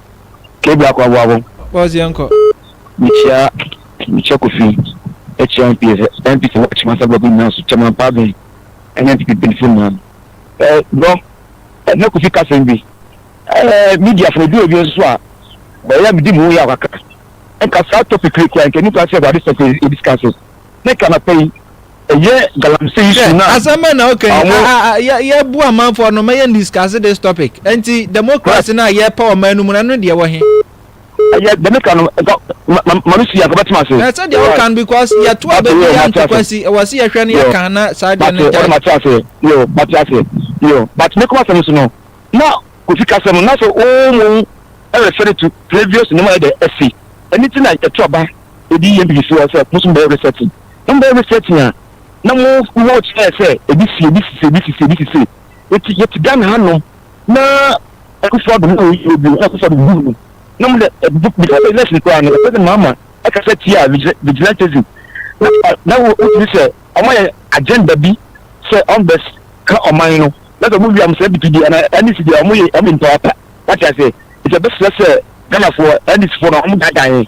Kebi akɔ aboa bom. Boss yɛn kɔ. Mekyia mekyia kofi ɛkyia NPS NPS wɔ kyima sɛ bɔbi nyinaa so kyɛma paabɛn ɛne NPP mpanyinfo nyinaa no ɛɛ bro ɛna kofi kasɛm bi ɛɛ media fo edu ebi nso a wɔyɛ medi mu yɛ akaka nka saa topic kura kura nka nipa sɛ wɔade sɛ ebi sika so. ne kanapa yi ɛyɛ galamsey Hwɛ, su no a asɛm bɛn na woka yi? ɔmo. A, a, a, yɛ, yɛbu amanfoɔ no, mɛyɛ discuss this topic. Nti, Right. democracy no a yɛpɛ ɔman no mu no, ɛno deɛ ɛwɔ he? Ɛyɛ deɛ meka no, nka ma, ma, ma me si a, nka bɛtema ase. Ɛɛ, sɛdeɛ Right. woka no, because yɛto Mate aba bi, yɛ, yɛ mate ase. antokwasi, ɛwɔ se yɛhwɛ no, Yɛ, yɛka, na saa deɛ no mate, ɔno agyae. mate ase. Yɛ, mate ase. Yɛ, but me kɔn asɛm no so no, na Kofi ka asɛm no, na sɛ wɔn mu ɛrefɛ no to previous nneɛma yɛ dɛ ɛsi. Ɛno nti na yɛto aba. Ebi yɛ biribi fua sɛ mo so mobɛyɛ resetting. Na mobɛyɛ resetting a, na mo wɔ kyerɛ sɛ ebi si, ebi sisi, ebi sisi, ebi sisi. Enti yɛte Ghana hanom na Akufo Addo na ɔyɛ obi o, na Akufo Addo huu no. Na mo deɛ, before the election koraa no, President Mahama kasa tiaa vigilantism. Na na wotumi sɛ wɔn ayɛ agenda bi sɛ wɔbɛs ka ɔman no. Na sɛ wɔn wie a, wɔsrɛ DP deɛ anaa NDC deɛ wɔyɛ wɔn yɛ nipa pa. Wate aseɛ? Enti yɛbɛsrɛ sɛ Ghanafoɔ, NDCfoɔ no, wɔn daadaa yɛn.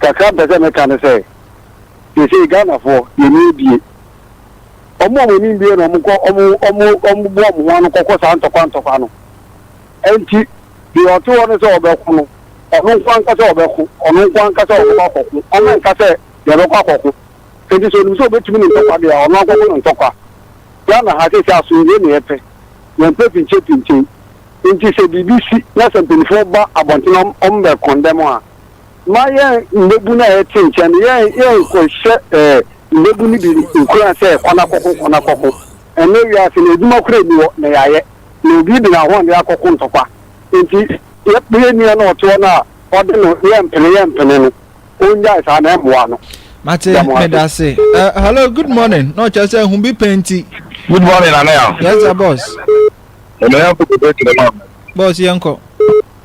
Kakra mpɛ sɛ meka ne sɛ, seesei Ghanafoɔ, yɛn ani abue. Wɔn a wɔn ani mbue no, wɔkɔ, wɔn, wɔn, wɔn boa wɔn ho ano kɔkɔ saa ntɔkwa ntɔkwa no. Ɛnti, deɛ ɔte hɔ no sɛ ɔbɛko no, ɔno nko ara nka sɛ ɔbɛko, ɔno nko ara nka sɛ ɔbɛkɔ akɔko, ɔno nka sɛ deɛ ɛbɛkɔ akɔko. Ɛnti sɛ ɔnim sɛ ɔbɛtumi ne ntɔkwa deɛ a, ɔno ankɔko ne ntɔkwa. Ghana ha seesei asomdwoeɛ na yɛpɛ, yɛmpɛ pinkye pinkye. Ɛnti sɛ biribi si na sɛ mpaninfoɔ ba abɔntene a wɔmmɛ condemn a, ma yɛn mmabun a yɛte nkyɛn no, yɛn yɛnkɔhyɛ eh, mmabun no bi nkuran sɛ kɔ na kɔko, kɔ na kɔko. Ɛnnɛ wiase no, adwuma koraa nni hɔ, na yɛayɛ, na obi de n'ahoɔden akɔko ntɔkwa. Enti yɛn nua no a ɔte hɔ no a ɔde no yɛmpene, yɛmpene no, onnyae saa na ɛmmoa no. Mate, Da mo ase. meda ase. Eh, hello, good morning. Na ɔkyerɛ sɛ ehu bi pɛ nti. Good morning, Anaya. Yes, sir, boss. Ɛnna yɛn koko bɛ kyerɛ maa mi. Boss, yɛnkɔ.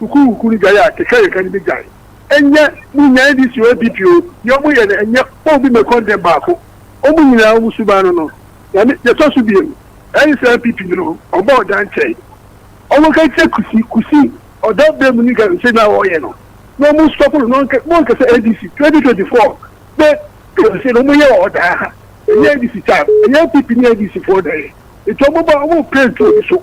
Sukuukuw no gyae a, kekareka no begyae. Ɛnyɛ mo nyan DC o, APP o, nea wɔyɛ no, ɛnyɛ wɔn bi na ɛkɔndɛm baako. Wɔn nyinaa, wɔn suban no no. Na ne, nea ɛtɔ so biam, ɛyɛ sɛ NPP no, wɔbɔɔ dan kyɛe. Wɔnka nkyerɛ Kusi, Kusi, ɔda bɛ mu ne galamsey no a ɔreyɛ no, na wɔn stop no, na wɔnka, wɔnka sɛ NDC, 2024, bɛ galamsey no, wɔyɛ wɔ hɔ daa. Ɛnyɛ NDC tab, ɛnyɛ NPP ne NDC foɔ na ɛyɛ. Nti wɔn ba, wɔn pɛ ntu obi so.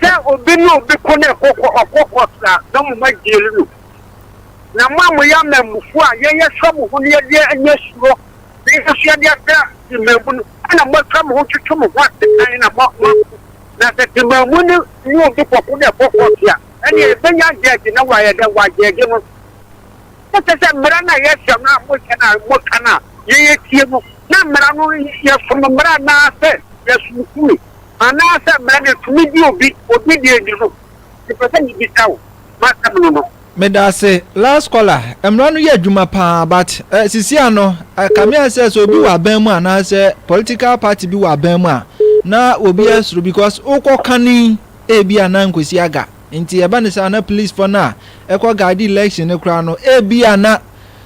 sɛ obi ne obi ko na ɛkɔ kɔ ɔkɔ kɔ saa na mo ma gyeel no na mo a mo yɛ amammufoɔ a yɛn yɛ sɔ mo ho na yɛde anya suro na yɛn nso yɛde ada temaamu no ɛna mo atwa mo ho twetwe mo ho asekan na mo mo ako na sɛ temaamu no ne obi kɔ ko na ɛkɔ kɔ sea ɛne ɛbɛnya gyɛɛgye na wayɛ dɛ wagyɛɛgye no na sɛ sɛ mmara na yɛhyɛ no a mo hyɛ na mo ka no a yɛn yɛtie no na mmara no yɛsom mmara na sɛ yɛsom kumi. Anaasɛ mmara no tumi de obi obi deɛ ni no? Mepɛ sɛ mebisa wo m'asɛm no no. Medase last caller mmara no yɛ adwuma paa but eh sisi ano eh kame ayɛ sɛ sɛ obi wɔ aban mu anaa sɛ political party bi wɔ aban mu a na obi asuro because wokɔ kane ebi a na nkosi aga nti ɛba ne saa na police fɔ no a ɛkɔ guide election no koraa no ebi a na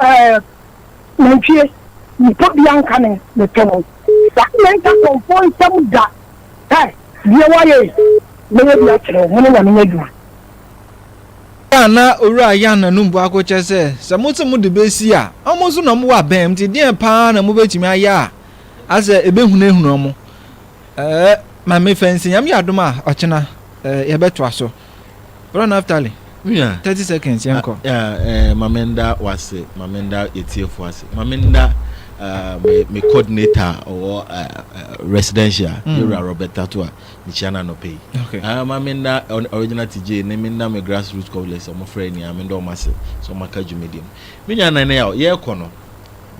eh, nantwie, nipa bia nka ne ne to no. Sa me nka kɔmfoɔ nsɛm da, eh, deɛ wayɛ yi, mɛyɛ bi akyerɛ wo, me ne nyame adwuma. Bere a na Owura Yan anum bu ako kyɛ sɛ, sɛ mose mode besi a, wɔn nso na wɔwɔ abɛn, nti deɛn paa na mobɛtumi ayɛ a asɛ ɛbɛhunahuna wɔn? Eh, Maame Fancy, Nyame yɛ adom a, ɔkyena, eh, yɛbɛtoa so. Bro Naftali. Yeah. 30 seconds yɛn kɔ. Ah, eh, Mame Nda wase, Mame Nda yɛtiefo ase. Mame Nda uh, me, me coordinator ɔwɔ uh, uh, residential mm. yɛwura Robert Tato a mekyia no anɔpɛ yi. Okay. Uh, Mame Nda original TJ ne me nda me grassroots cobblers ɔmo frɛ ni Mame Nda ɔmo ase sɛ ɔmo aka dwumadi no. Me nua nan yɛ yɛkɔ no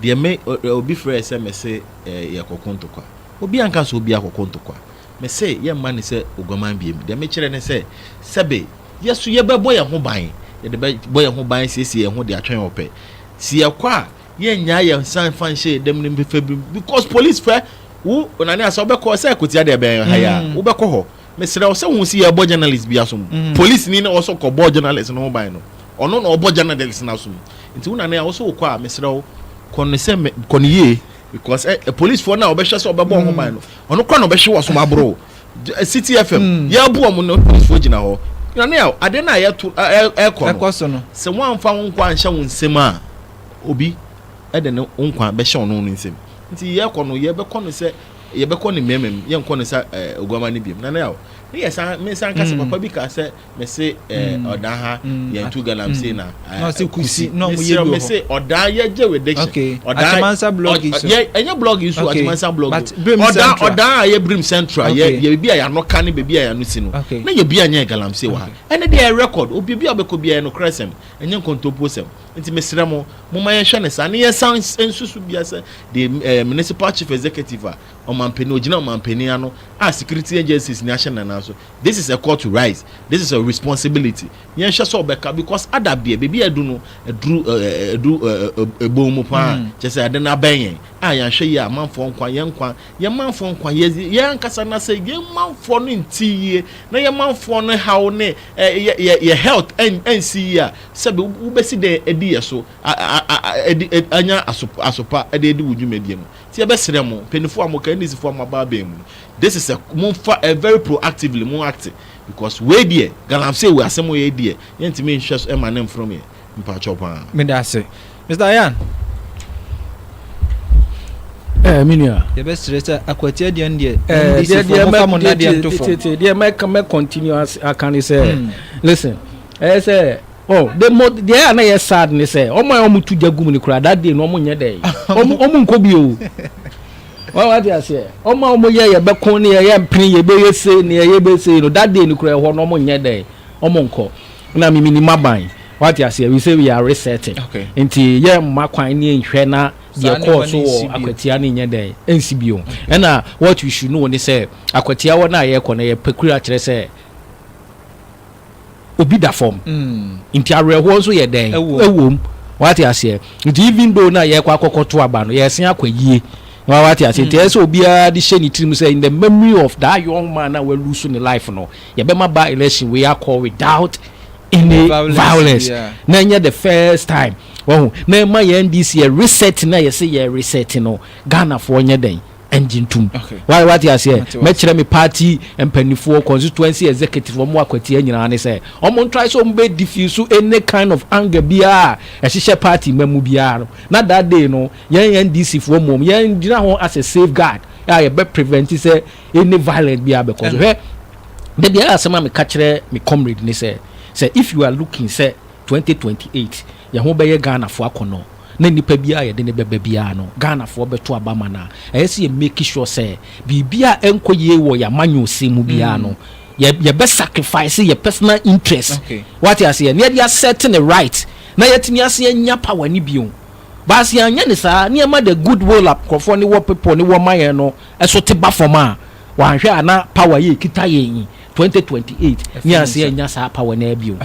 deɛ me obi frɛ sɛ mese eh, yɛkɔko ntokwa. Obi anka sɛ obi akɔko ntokwa. Mese yɛmma no sɛ oguaman biom. Deɛ mekyerɛ ne sɛ, sɛbe yɛ nso yɛbɛbɔ yɛn ho ban, yɛde bɛbɔ yɛn ho ban asiesie yɛn ho de atwɛn ɔpɛ. Se yɛkɔ a, yɛnnyae yɛn nsa mfa nhyɛ yɛn dam no mfa bi mu, because police fɛ wo Onane a sɛ wobɛkɔ, sɛ Akwatia deɛ ɛbɛn ha yi a, mm. wobɛkɔ hɔ. Mesrɛ wo sɛ hu se yɛbɔ journalist bi asom. Mm. Police ni na ɔsɔ kɔbɔ journalist no ho ban no. Ɔno na ɔbɔ journalist no asom. Nti wo Nane a wosɛ wokɔ a, mesrɛ wo kɔ no sɛ kɔ no yie because eh, policefoɔ no a wɔbɛhwɛ sɛ wɔbɛbɔ ho ban no ɔno kora na ɔbɛhwe wɔ som aboro city fm mm. yɛabu ɔmo no policefoɔ gyina hɔ nane a adeɛ no a yɛto ɛkɔ no sɛ woamfa wo nkwa anhyɛ wo nsɛm a obi ɛde ne wo nkwa bɛhyɛ ɔno no nsɛm nti yɛkɔ no yɛbɛkɔ no sɛ yɛbɛkɔ ne mmɛmɛm yɛnkɔ no sɛ oguama no biam nane a ne yɛ saa me nsa nkasa mm. papa bi kaa sɛ mese eh, mm. ɔdan ha mm. yɛn tu ganam mm. se na eh, kusi mesrɛ mese ɔdan yɛ gye with diction ɔdan ɛnyɛ blog yi so atimansa blog ɔdan ɔdan a yɛ brim central yɛ yɛ beebi a yɛano ka ne beebi a yɛano si no na yɛ bi a nyɛ ganam se wɔ ha ɛne deɛ yɛ record obi bi a ɔbɛkɔ bi a yɛ no korɛ sɛm ɛnyɛ nkontompo sɛm nti mesrɛ mo mo ma yɛhwɛ ne saa ne yɛ san nsusu bi asɛ de eh, municipal chief executive a ɔmampanin ogyina ɔmampanin ano a security agencies ni ahyɛ nana so This is a call to rise, this is a responsibility, yɛnhwɛ sɛ ɔbɛka because ada deɛ baabi a adu no aduru adu ɛbɔn mu paa mm. kyɛ sɛ ade no abɛn yɛn a yɛanhwɛ yie a amanfoɔ nkwa yɛn nkwa yɛn manfoɔ nkwa yɛn ankasa na sɛ yɛn manfoɔ no nti yie na yɛn manfoɔ no haw ne yɛ health ɛnsi yie a sɛ wobɛsi dɛn adi yɛ so anya asopa ɛde adi wo dwumadie no Nti yɛbɛ srɛ mo mpanyinfoɔ a mo ka NDC foɔ a mo aba abɛn mu no this is a mo nfa ɛ very proactively mo act because wei deɛ galamsey wei asɛm wei yɛ deɛ yɛn ntumi nhwɛ so ɛma ne nfrom yɛ mpakyɛw paa. Meda ase Mister Ayan. Eh me nua. Yɛbɛ srɛ sɛ Akwati Aduane deɛ NDC foɔ mo fa mo nnadeɛ nto fam. Deɛ mɛ continue aka ne sɛ listen ɛyɛ sɛ. Oh the mo deɛ a na yɛ sad ne sɛ ɔmo a ɔmo tu gya gum ne koraa that day no ɔmo nyɛ dɛn ɔmo ɔmo nkɔ bi o wɔn ate aseɛ ɔmo a ɔmo yɛ yɛ bɛko ne yɛ yɛ mpene yɛ bɛyɛ se ne yɛ yɛ bɛ se no that day no koraa ɛhɔ no ɔmo nyɛ dɛn ɔmo nkɔ na mimi ni ma ban wɔn ate aseɛ we say we are resetting Okay. nti yɛ mma kwan ne nhwɛ na Saa deɛ nneɛma kɔɔ no so nsi wɔ bio. akwatia ne nyɛ dɛn ɛnsi bio ɛna what we should know ne sɛ akwatia hɔ no a yɛkɔ no yɛ pɛkura kyerɛ sɛ obi da fam nti awerɛhoɔ nso yɛ dɛn ɛwɔ mu wate aseɛ nti even though na yɛkɔ akɔkɔ to aba no yɛsen akɔ ayie wa wate aseɛ nti ɛsɛ obiara de hyɛ ne tirim sɛ in the memory of that young man na walu so ne life no yɛbɛma ba election wei akɔ without any violence na ɛnyɛ the first time wɔho na ɛma yɛ NDC yɛ reset na yɛsɛ yɛ reset no Ghanafoɔ nyɛ dɛn ngye ntom. Wa wate aseɛ? Mate wase. Mɛkyerɛ me party mpanifoɔ, constituency executive, ɔmo akwatia nyinaa ne sɛ, ɔmo ntrae sɛ ɔmo bɛ diffuse any kind of anger biara a ɛhyehyɛ party mma mu biara no, na that day no, yɛn NDC foɔ mmom, yɛn gyina hɔ as a safe guard a yɛbɛ prevent sɛ any violence biara bɛkɔ so. Hwɛ, da biara asɛm a meka kyerɛ me comrade ne sɛ, sɛ if you are looking sɛ 2028 Yɛn ho bɛyɛ Ghanafoɔ akɔnnɔ na nnipa biara a yɛde no bɛba biara no, Ghanafoɔ bɛto aba ama no a, ɛyɛ sɛ yɛ make sure sɛ biribi a ɛnkɔ yie wɔ yɛn amanyɔsɛm mu biara no, yɛ yɛbɛ sacrifice yɛ personal interest, wate aseɛ, na yɛde asɛte ne right na yɛatumi asan anya power no bio. But sɛ yɛanyɛ no saa na yɛma the good will a nkurɔfoɔ no wɔ people no wɔ ma yɛn no so te ba fam a, wɔanhwɛ a na power a yɛkita yɛn yi, 2028, ne yɛansan annya saa power no ara bio.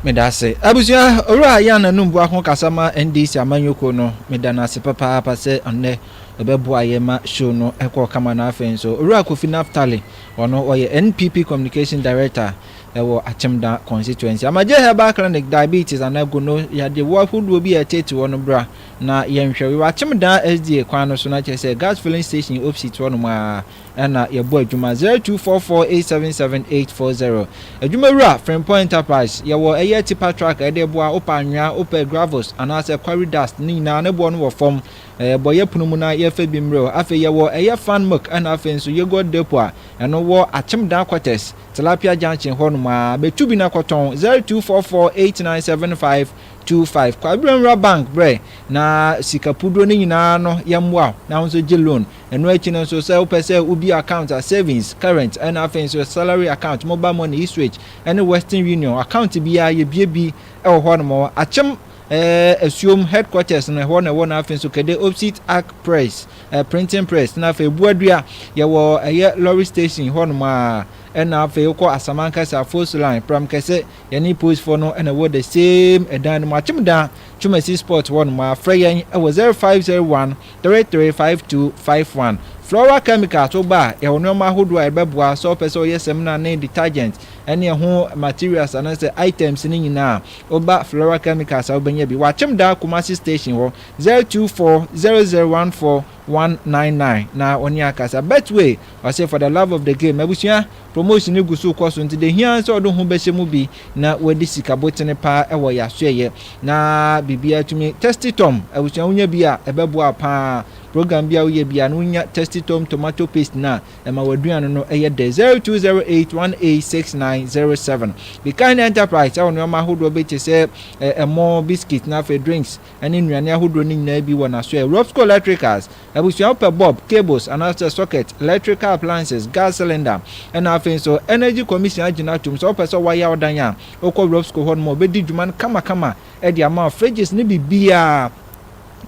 Medase. Abusua Owura Yan Anum Boako kasa ma NDC amanyɔ kuo no. Meda no ase papaapa sɛ ɔnnɛ ɔbɛboa yɛn ma show no kɔɔ kama na afei nso Owura Kofi Naphtali ɔno ɔyɛ NPP Communication Director wɔ Akyemda Constituency. Amagye Herbal Clinic Diabetes anaa Gono yadeɛ woɔ ahodoɔ bi a ɛtete hɔ no bra na yɛnhwɛ wo. Yɛwɔ Akyemda SDA kwan no so na kyerɛ sɛ Gas Filling Station opsit hɔ nom aa. na yɛbɔ adwuma. Zero two four four eight seven seven eight four zero Adwumawura, Frimpong Enterprise, yɛwɔ ɛyɛ tipa truck a yɛde boa, wopɛ anwea, wopɛ gravels anaasɛ quarry dust ne nyinaa ne boɔ no wɔ fam, bɔ yɛ pono mu na yɛfa bi mmerɛ o. Afei yɛwɔ ɛyɛ fan milk ɛna afei nso yogurt depot a ɛno wɔ Akyemdan quarters, Tilapia junction hɔ nom aa, bɛtu bi na kɔtɔn. Zero two four four eight nine seven five two five Kwaberanwura Bank, brɛ na sika puduro no nyinaa no yɛmmoa wo na wo nso gye loan Ɛno akyi no nso, sɛ wopɛ sɛ wobue account a, savings, current, ɛna afei nso salary account, mobile money, Eastwich, ɛne Western Union account biara yɛbue bi wɔ hɔnom. Akyem eh, Asuom headquarters no ɛhɔ na ɛwɔ na afei nso Kede Opsit Arc Press, eh, printing press, na afei Buadua yɛwɔ ɛyɛ lorry station hɔnom a, ɛna afei wokɔ Asamankasa, Force Line, Pramkɛse, yɛne polisfoɔ no na ɛwɔ the same ɛdan no mu, Akyem Dan, Twumasi Spot hɔnom a, frɛ yɛn wɔ 0501 Three three five two five one Flora Chemicals wo ba a yɛwɔ nnoɔma ahodoɔ a ɛbɛboa sɛ wopɛ sɛ woyɛ samina ne detergent ɛne ɛho materials anaasɛ items no nyinaa wo ba Flora Chemicals a wobɛnya bi wɔ Akyemdaa Kumasi station hɔ zero two four zero zero one four one nine nine na wɔne akasa Betway Ɔse for the love of the game abusua promotion no gu so kɔ so nti de hia ara sɛ ɔde wo ho bɛhyɛ mu bi na wadi sika botene paa ɛwɔ yasoɛyɛ na biribi atumi Tasty Tom abusua wonya bi a ɛbɛboa wo paa program bi a woyɛ biara no wonya Tasty Tom tomato paste no a ɛma w'aduane no ɛyɛ dɛ 0208186907 Bikahene Enterprise ɛwɔ nneɛma ahodoɔ bi te sɛ ɛmo biscuit na afei drinks ne nnuane ahodoɔ no nyinaa bi wɔ n'asoɛɛ. Robsco Electricals, Abusua wo pɛ bulb, cables anaasɛ socket, electrical appliances, gas cylinder ɛna afei nso Energy Commission agyina atom sɛ wopɛ sɛ wɔayɛ wo dan a wokɔ Robsco hɔ nom a wɔbɛdi dwuma no kama kama de ama wo fridges ne biribiara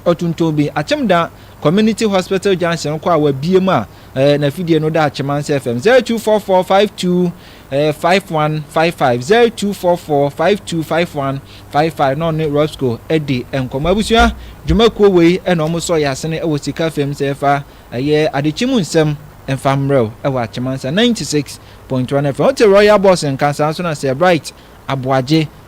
ɔtontɔn bi Akyemda Community Hospital Junction kɔ a wabie mu a eh, n'afidie no da Akyem Ansa FM 024452 Ɛyɛ five one five five zero two four four five two five one five five na ɔne Roscoe adi nkɔmɔ abusua dwumakuo wei ɛna wɔn sɔ yɛ asene ɛwɔ sika fam sɛ ɛfa ɛyɛ adekyi mu nsɛm ɛnfa mmerɛw ɛwɔ Akyɛmansa ninety six point one FM wote Royal Boss nka saa nso na Sir Bright Aboagye